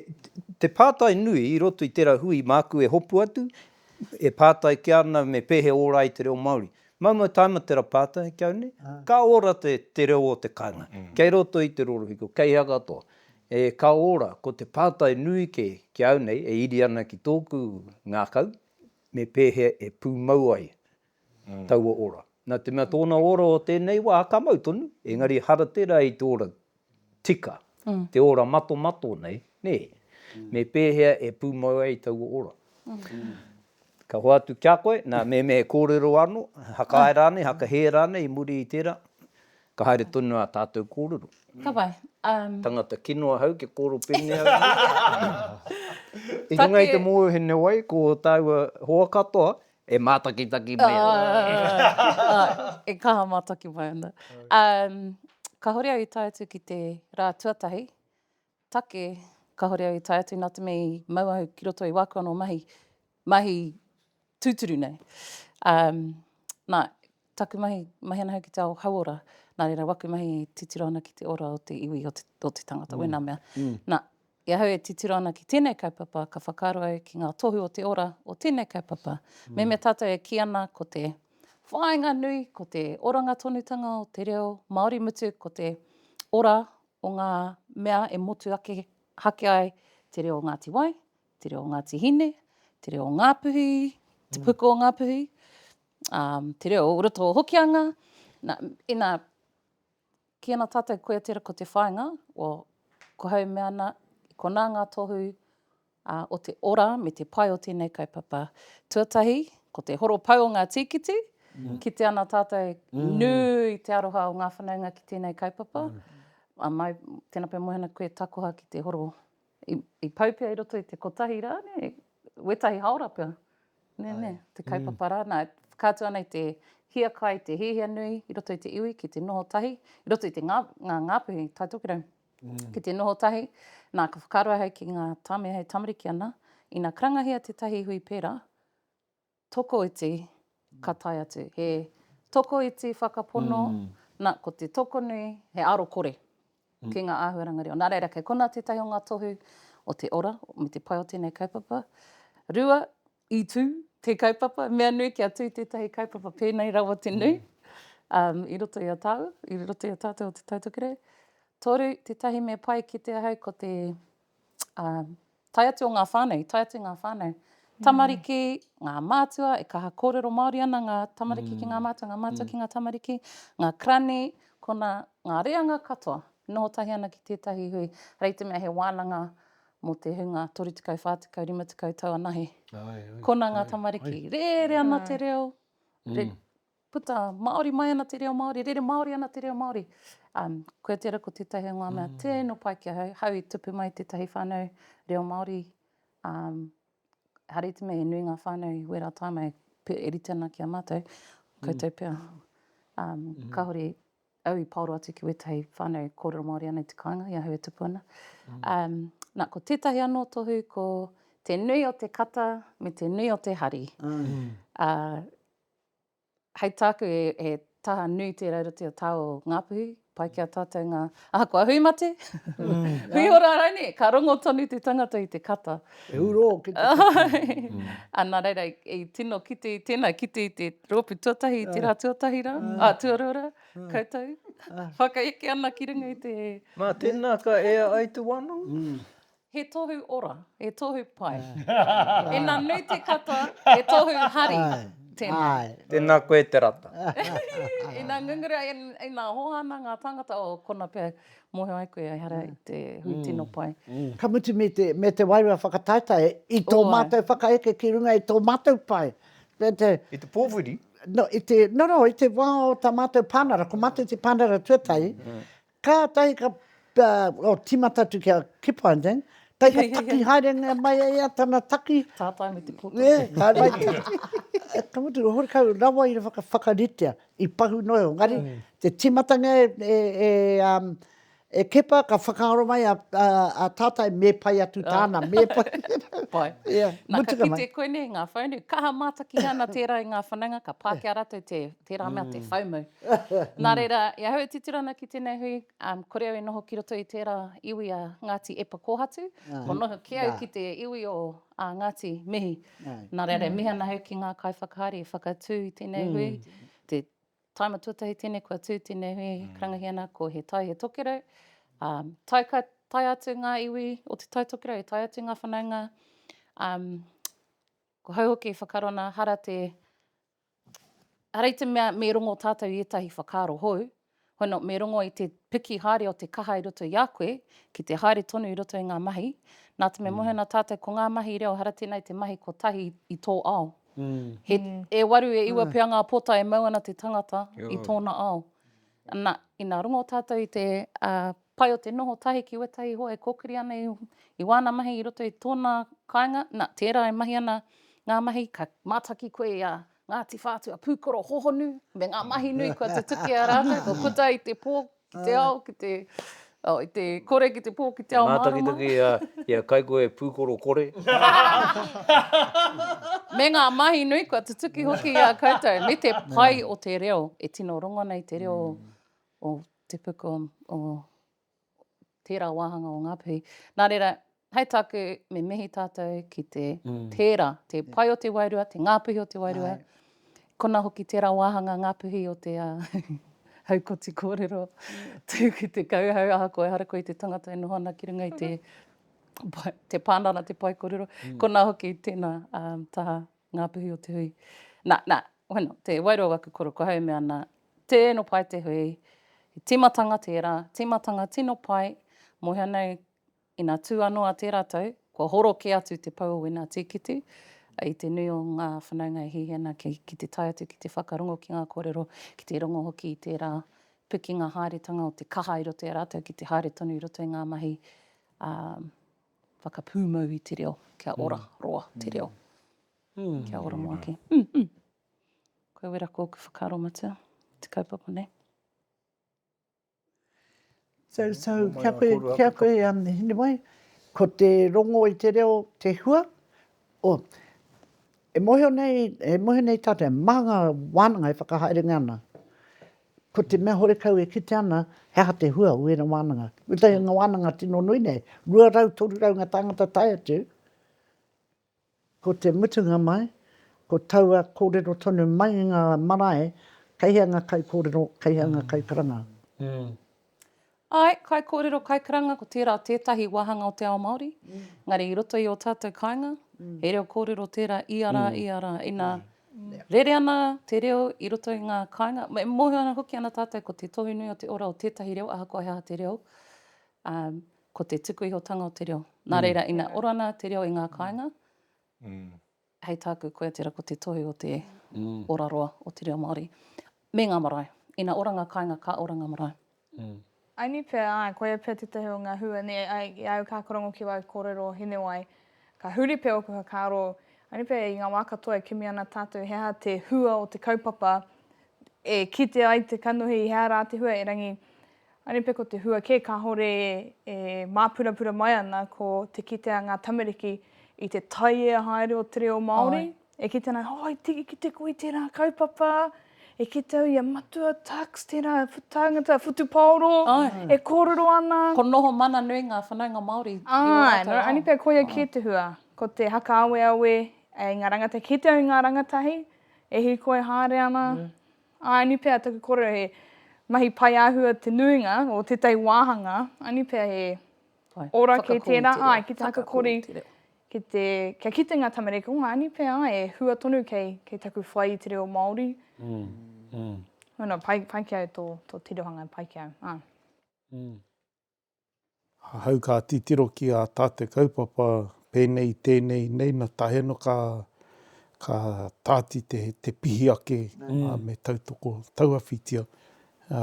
te pātai nui i roto i tērā hui māku e hopu atu, e pātai kē ana me pehe ora ai te reo Māori. Maumau taima tērā pātai ki au nei, ka ora te reo o te kāinga, kei roto i te rorohiko, kei hea katoa. E ka ora, ko te pātai nui kē ki au nei e iri ana ki tōku ngākau, me pēhea e pūmau ai taua ora. Nā te mea tōna ora o tēnei wā ka mau tonu, engari ehara tērā i te ora tika, te ora matomato nei, nē? Me pēhea e pūmau ai taua ora? Ka hoatu ki a koe, nā, mēnā e kōrero anō, hakae rānei, hakahē rānei i muri i tērā, Ka haere tonu ā tātou kōrero. Ka pai. Tangata kino ahau, kia kōrero pēnei au nei. I runga i te mōhiohene wai, ko tāua hoa katoa e mātakitaki mai ana. E kaha mātaki mai ana. Kāore au i tae atu ki te rā tuatahi, take, kāore au i tae atu nā te mea i mau au ki roto i wāku anō mahi, mahi tūturu nei. Um, nā, taku mahi, mahi ana au ki te ao hauora, nā reira waku mahi e titiro ana ki te ora o te iwi, o te, o te tangata, mm. wēnā mea. Mm. Nā, i ahau e titiro ana ki tēnei kaupapa, ka whakaaro au ki ngā tohu o te ora o tēnei kaupapa. Mm. Me mea tātou e ki ana ko te whāinga nui, ko te oranga tonutanga o te reo Māori mutu, ko te ora o ngā mea e motu ake hake ai te reo o Ngāti Wai, te reo o Ngāti Hine, te reo o Ngāpuhi, te puku o Ngāpuhi, ā, te reo o roto o Hokianga. Nā, inā, ki ana tātou koe tera ko te whāinga, well, ko hau mea ana, konā ngā tohu ā, o te ora me te pai o tēnei kaupapa. Tuatahi, ko te horopau o ngā tīkiti, kite ana tātou nui te aroha o ngā whanaunga ki tēnei kaupapa. Mai, tēnā pea moe ana koe takoha ki te horo i pau pea i roto i te kotahi rā, nē, wētahi haora pea, nē, nē, te kaupapa rā. Nā, whakaatu ana i te hiakai, te hiahia nui i roto i te iwi ki te noho tahi, i roto i te ngā, ngā ngāpuhi, Taitokirau. Ki te noho tahi, nā, ka whakaaro ahau ki ngā tāmi hei tamariki ana, ina karangahia tētahi hui pērā, tokoiti ka tae atu, he tokoiti whakapono, nā, ko te tokonui, he arokore ki ngā āhuaranga reo. Nā reira, kei konā tētahi o ngā tohu o te ora me te pai o tēnei kaupapa. Rua, I tū te kaupapa, mea nui kia tū tētahi kaupapa pēnei rawa te nui, um, i roto i a tāu, i roto i a tātou o Te Tautokerau. Toru, tētahi me pai ki te ahau ko te um, tai atu o ngā whānau, tai atu ngā whānau. Mm. Tamariki, ngā mātua, e kaha kōrero Māori ana ngā tamariki mm. ki ngā mm. mātua, ngā mātua mm. ki ngā tamariki, ngā krani, kona ngā reanga katoa, noho tahi ana ki tētahi hui, rei te mea he wānanga mō te hunga 30, 40, 50 tau anahe. Kona ngā tamariki, rere ana te reo, puta Māori mai ana te reo Māori, rere Māori ana te reo Māori. Um, koe tērā ko tētahi o ngā mea mm. tēno pai ki a hau, hau i tupu mai tētahi whānau reo Māori. Um, hari te mei, e nui ngā whānau i wērā tāmai, e rite ana ki a mātou, koutou mm. pia. Um, mm. Kāhore, au i paoro atu ki wetahi whanau korero Maori ana i te kainga i ahau e tupu ana. Um, na, ko tetahi ano tohu ko te nui o te kata me te nui o te hari. Mm. Uh, hei tāku e, e taha nui tērā roti o tāo Ngāpuhi, pai ki a tātou ngā, aha, kua hui mate, mm. hui ora rāne, ka rongo tonu te tangata i te kata. E uro ki te whakatau. A nā reira, i tino kite i tēnā, kite i te rōpū tuatahi, i tērā tuatahi rā, ā, tuarua rā, koutou, whakaeke ana ki runga i te... Nā, tēnā ka ea ai te wā nui. He tohu ora, he tohu pai. Ina nui te kata, he tohu hari. Tēnā. Tēnā koe te rata. Ina ngunguru ai, ina hohana ngā tāngata, o kona pea, Mōhio ai koe, ehara i te hui tino pai. Ka mutu me te wairua whakataetae i tō mātou whakaeke ki runga i tō mātou pae. I te pōwhiri? Nō, i te wā o tā mātou pānara, ko mātou te pānara tuatahi, kātahi ka tīmata atu kia Kipling, kai ka taki haerengia mai e ia tana taki. Tātai me te pōtiki. Ka mutu, horekau rawa i whakaritea. I pahu noa iho, engari te timatanga e Kepa ka whakaaro mai a Tātai me pai atu tāna, me pai. Pai. Ia, mutu ka mai. Nā, ka kite koe nei, ngā whaunu, kaha mātaki ana tērā i ngā whanaunga, ka pā ki a rātou te, tērā mea te whaumau. Nā reira, i ahau e titiro ana ki tēnei hui, kore au e noho ki roto i tērā iwi a Ngāti Epa Kōhatu, kua noho kē au ki te iwi o Ā ngāti, mihi. Nā reira, mihi ana au ki ngā kaiwhakahaere i whakatū i tēnei hui. Te taima tuatahi tēnei kua tū tēnei hui e karangahia ana ko He Tai, He Tokerau. Ā, tae ka tae atu ngā iwi o Te Tai Tokerau, e tae atu ngā whanaunga. Ā, ko hau hoki i whakaaro ana, hara te Hara i te mea me rongo tātou i ētahi whakaaro hou, why not me rongo i te piki haere o te kaha i roto i a koe ki te haere tonu i roto i ngā mahi, nā te mea mohe ana tātou ko ngā mahi reo hara tēnei te mahi kotahi i tō ao. He e waru, e iwa pea ngā pota e mau ana te tangata i tōna ao. Na, ina rongo tatou i te pai o te noho tahi ki wetahi hoa e kokiri ana i wana mahi i roto i tona kainga, na, tera e mahi ana nga mahi ka mataki koe i a Ngati Whatua Pukoro hohonu me nga mahi nui kua tutuki a ratou, kua puta i te po, ki te ao, ki te. Oh, i te kore ki te pō ki te ao mārama. He mātakitaki i a Kaikohe Pūkoro Kore. Me ngā mahi nui kua tutuki hoki i a koutou, me te pai o te reo, e tino rongo ana i te reo o te puku o tērā wāhanga o Ngāpuhi. Nā reira, Hei tāku, me mihi tātou ki te pērā, te pae o te wairua, te ngāpuhi o te wairua, kona hoki tērā wāhanga ngāpuhi o te haukoti kōrero, tū ki te kauhau, ahakoa ehara koe i te tangata e noho ana ki runga i te te pānara, te pae kōrero, kona hoki tēnā taha ngāpuhi o te hui. Nā, nā, wano, te wairua o aku koro, ko hau e mea ana, tēno pae te hui, he tīmatanga tērā, tīmatanga tino pae, mōhio nei Ina tū anō a te ratou, kua horo kē atu te pou o wena tīkiti, i te nui o ngā whanaunga e hihi ana ki, ki te tae atu ki te whakarongo ki ngā kōrero, ki te rongo hoki i tērā pikinga haeretanga o te kaha i roto i a rātou ki te haere tonu i roto i ngā mahi, ā, whakapūmau i te reo, kia ora roa te reo. Kia ora moaki. Koe wera kōku whakaaro matua, te kaupapa nei. So, so, kia koe, kia koe, um, Hinewai, ko te rongo i te reo te hua, o, e mōhio nei, e mōhio nei tātou, mā ngā wānanga e whakahaerengia ana, ko te mea horekau e kitea ana, he aha te hua o ērā wānanga. Kotahi o ngā wānanga tino nui nei, 200, 300 ngā tāngata tae atu, Ko te mutunga mai, ko taua kōrero tonu mai i ngā marae, kei hea ngā kaikōrero, kei hea ngā kaikaranga? Āe, kaikōrero, kaikaranga, ko tērā tētahi wāhanga o te ao Māori, engari i roto i ō tātou kāinga, he reo kōrero tērā ia rā, ia rā. Inā rere ana te reo i roto i ngā kāinga, e mōhio ana hoki ana tātou ko te tohu nui o te ora o tētahi reo ahakoa he aha te reo, Ko te tuku ihotanga o te reo. Nā reira, ina ora ana te reo i ngā kāinga, hei tāku, koia tērā ko te tohu o te ora roa o te reo Māori. Me ngā marae. Ina ora ngā kāinga, ka ora ngā marae. Aini pea, āe, koia pea tētahi o ngā hua nei, āe, i au ka karongo ki wāu kōrero o Hinewai, ka huri pea ōku whakaaro, aini pea i ngā wā katoa e kimi ana tātou he aha te hua o te kaupapa e kite ai te kanohi, he aha rā te hua, erangi, Anipe ko te hua kē kāore e māpurapura mai ana ko te kite a ngā tamariki i te taiea haere o te reo Māori, e kite ana, oh i tiki kite koe i tērā kaupapa, e kite au i a Matua Tucks, tērā tāngata whutupaoro e kōrero ana. Ko noho mana nui ngā whanaunga Māori i ō rātou ao. Āe, anipe koia kē te hua, ko te hakaaweawe i ngā rangatahi, kite au i ngā rangatahi e hīkoi haere ana, Aini pea taku korero he mahi pai ahua te nuinga o tetahi wahanga, aini pea he ora kei tera, ai, ki te hakakori, ki te, kia kite nga tamariki, oh, aini pea e hua tonu kei, kei taku whai i te reo Maori. Mm. Mm. No, no, pai, pai ki au to, to tirohanga, pai ki au. Ah. Mm. Ahau ka titiro ki a tā te kaupapa pēnei tēnei nei na tae no ka ka tāti te te pihi ake a me tautoko tauawhitia a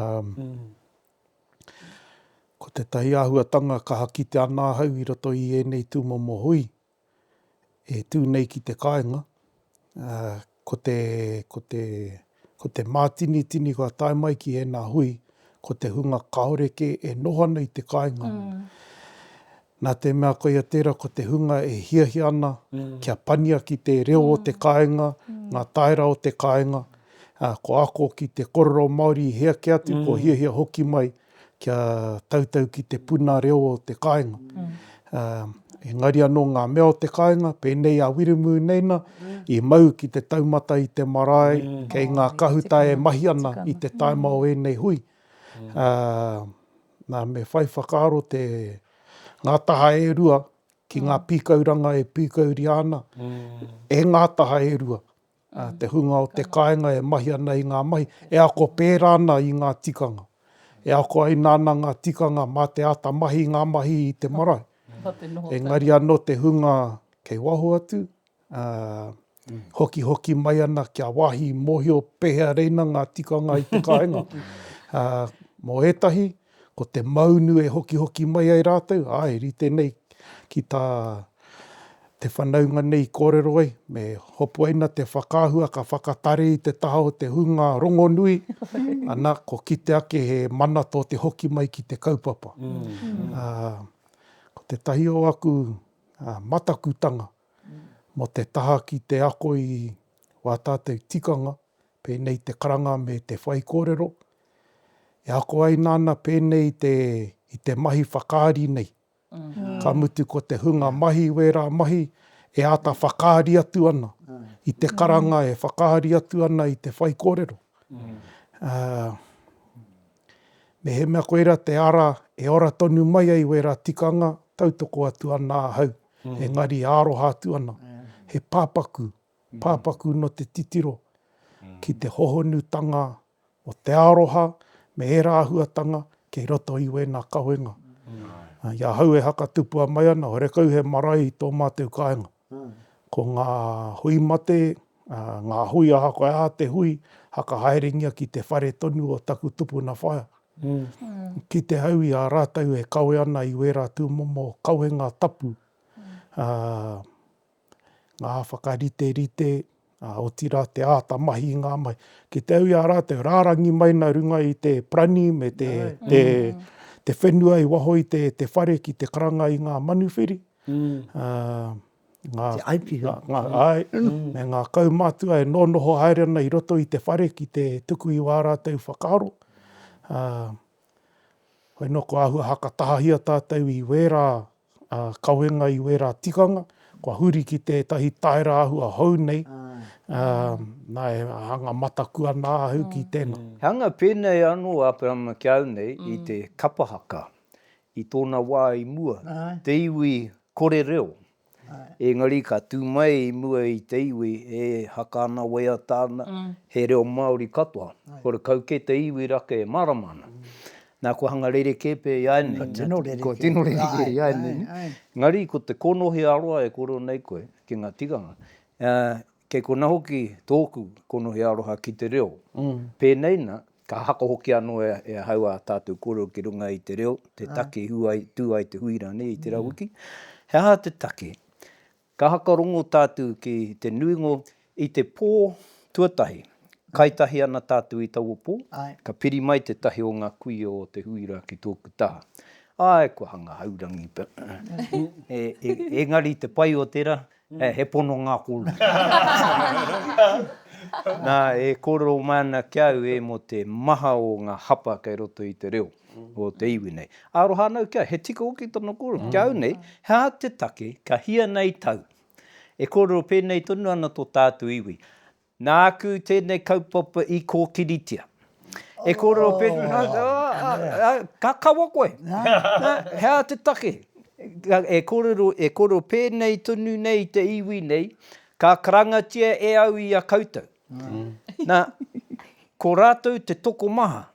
ko tetahi ahuatanga kaha kite ana ahau i roto i ēnei tumomo hui e tū nei ki te kāinga, ko te, ko te, ko te mātinitini kua tae mai ki ēnā hui, ko te hunga kāore kē e noho ana i te kāinga. Nā te mea koia tērā, ko te hunga e hiahia ana kia pania ki te reo o te kāinga, ngā tāera o te kāinga, ko ako ki te korero Māori i hē ake atu, kua hiahia hoki mai, kia tautau ki te puna reo o te kāinga. Engari anō ngā mea o te kāinga, pēnei a Wiremu nei nā, i mau ki te taumata i te marae, kei ngā kahuta e mahi ana i te taima o ēnei hui. Nā, me whai whakaaro te, ngā taha e rua ki ngā pīkauranga e pīkauria ana, e ngā taha e rua. te hunga o te kāinga e mahi ana i ngā mahi, e ako pērā ana i ngā tikanga, e ako ai nāna ngā tikanga mā te āta mahi i ngā mahi i te marae. Engari anō te hunga kei waho atu, hokihoki mai ana kia wāhi mōhio pēhea reina ngā tikanga i te kāinga. Mō ētahi, Ko te maunu e hokihoki mai ai rātou, āe, rite nei ki tā te whanaunga nei i kōrero ai, me hopuaina te whakaahua ka whakatare i te taha o te hunga rongonui, ana, ko kite ake he mana tō te hoki mai ki te kaupapa. Ā, ko tētahi o aku matakutanga mō te taha ki te ako i wā tātou tikanga, pēnei te karanga me te whaikōrero, E ako ai nāna pēnei i te, i te mahi whakaari nei. Ka mutu ko te hunga mahi wērā mahi e āta whakaari atu ana i te karanga e whakaari atu ana i te whaikōrero. Mehemea koirā te ara e ora tonu mai ai wērā tikanga, tautoko atu ana ahau, engari e aroha atu ana, he pāpaku, pāpaku nō te titiro ki te hohonutanga o te aroha me ērā āhuatanga kei roto i wēnā kawenga. I ahau e hakatupua mai ana, horekau he marae i tō mātou kāinga. Ko ngā hui mate, ngā hui ahakoa e aha te hui, hakahaerengia ki te whare tonu o taku tupuna whaea. Kite au i a rātou e kawe ana i wērā tūmomo kawenga tapu, ā, ngā whakariterite, ā, otirā te āta mahi i ngā mahi. Ki te au i a rātou, rārangi mai nā runga i te parani me te, te, te whenua i waho i te, te whare ki te karanga i ngā manuwhiri, ā, ngā, ngā, āe, me ngā kaumātua e nōnoho haere ana i roto i te whare ki te tuku i wā rātou whakaaro, ā, Hoi noa kua ahua hakatahahia tātou i wērā kawenga, i wērā tikanga, kua huri ki tētahi taera ahua hou nei, nā e hanga mataku ana ahau ki tēnā. He hanga pēnei anō a Aperahama ki a au nei i te kapa haka i tōna wā i mua, te iwi kore reo. Engari ka tū mai i mua i te iwi e haka ana waiata ana, he reo Māori katoa, horekau kē te iwi rake e mārama ana. Nā, kua hanga rerekē pea i āianei. Kua tino rerekē. Kua tino rerekē i āianei. Engari ko te kōnohi ā-roa e kōrero nei koe ki ngā tikanga, Kei kona hoki tōku konohi aroha ki te reo. Pēnei na, ka hako hoki anō e ahau ā tātou kōrero ki runga i te reo, te taki i tū ai te hui rānei i tērā wiki. He aha te taki? Ka hakarongo tātou ki te nuinga o. I te pō tuatahi, kai tahi ana tātou i taua pō, ka piri mai tētahi o ngā kuia o te hui rā ki tōku taha. Āe, kua hanga haurangi. Engari te pai o tērā, He, he pononga kolu. Nā, e kōrero mai ana ki au e mō te maha o ngā hapa kei roto i te reo o te iwi nei. Aroha ana au ki au, he tika hoki tōna kōrero. Ki au nei, he aha te take ka hia nei tau? E kōrero pēnei tonu ana tō tātou iwi. Nāku tēnei kaupapa i kōkiritia. E kōrero pēnei, ka kawa koe. He aha te take? E kōrero pēnei tonu nei i te iwi nei, ka karangatia e au i a koutou. Nā, ko rātou te tokomaha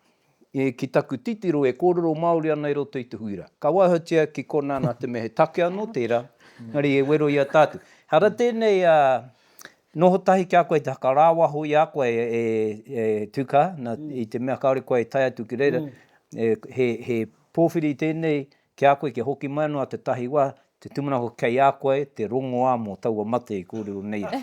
ki taku titiro e kōrero Māori ana i roto i te hui rā. Ka waihotia ki konā nā te mea he take anō tērā, engari e wero i a tātou. Ehara tēnei a Noho tahi ki a koe te whakarāwaho i a koe e Tuka, na, i te mea kāore koe e tae atu ki reira, he, he pōwhiri tēnei ki a koe kia hoki mai anō a Te Tahi Wā, te tūmanako kei a koe te rongoā mō taua mate i kōrero nei ai.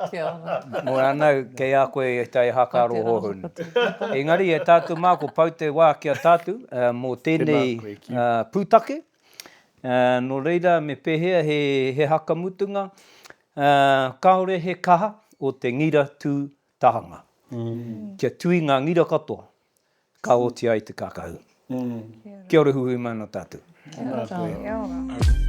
Kia ora. Nō rānau, kei a koe e tae haka aro hohonu. Ko te rā, ko te rā. Engari e tātou mā, kua pau te wā ki a tātou mō tēnei pūtake. Ā, nō reira, me pēhea he, he haka mutunga? Ā, kāore he kaha o te ngira tū tahanga. Kia tui ngā ngira katoa, ka oti ai te kākahu. Kia ora huhui mai nō tātou. Kia ora tātou.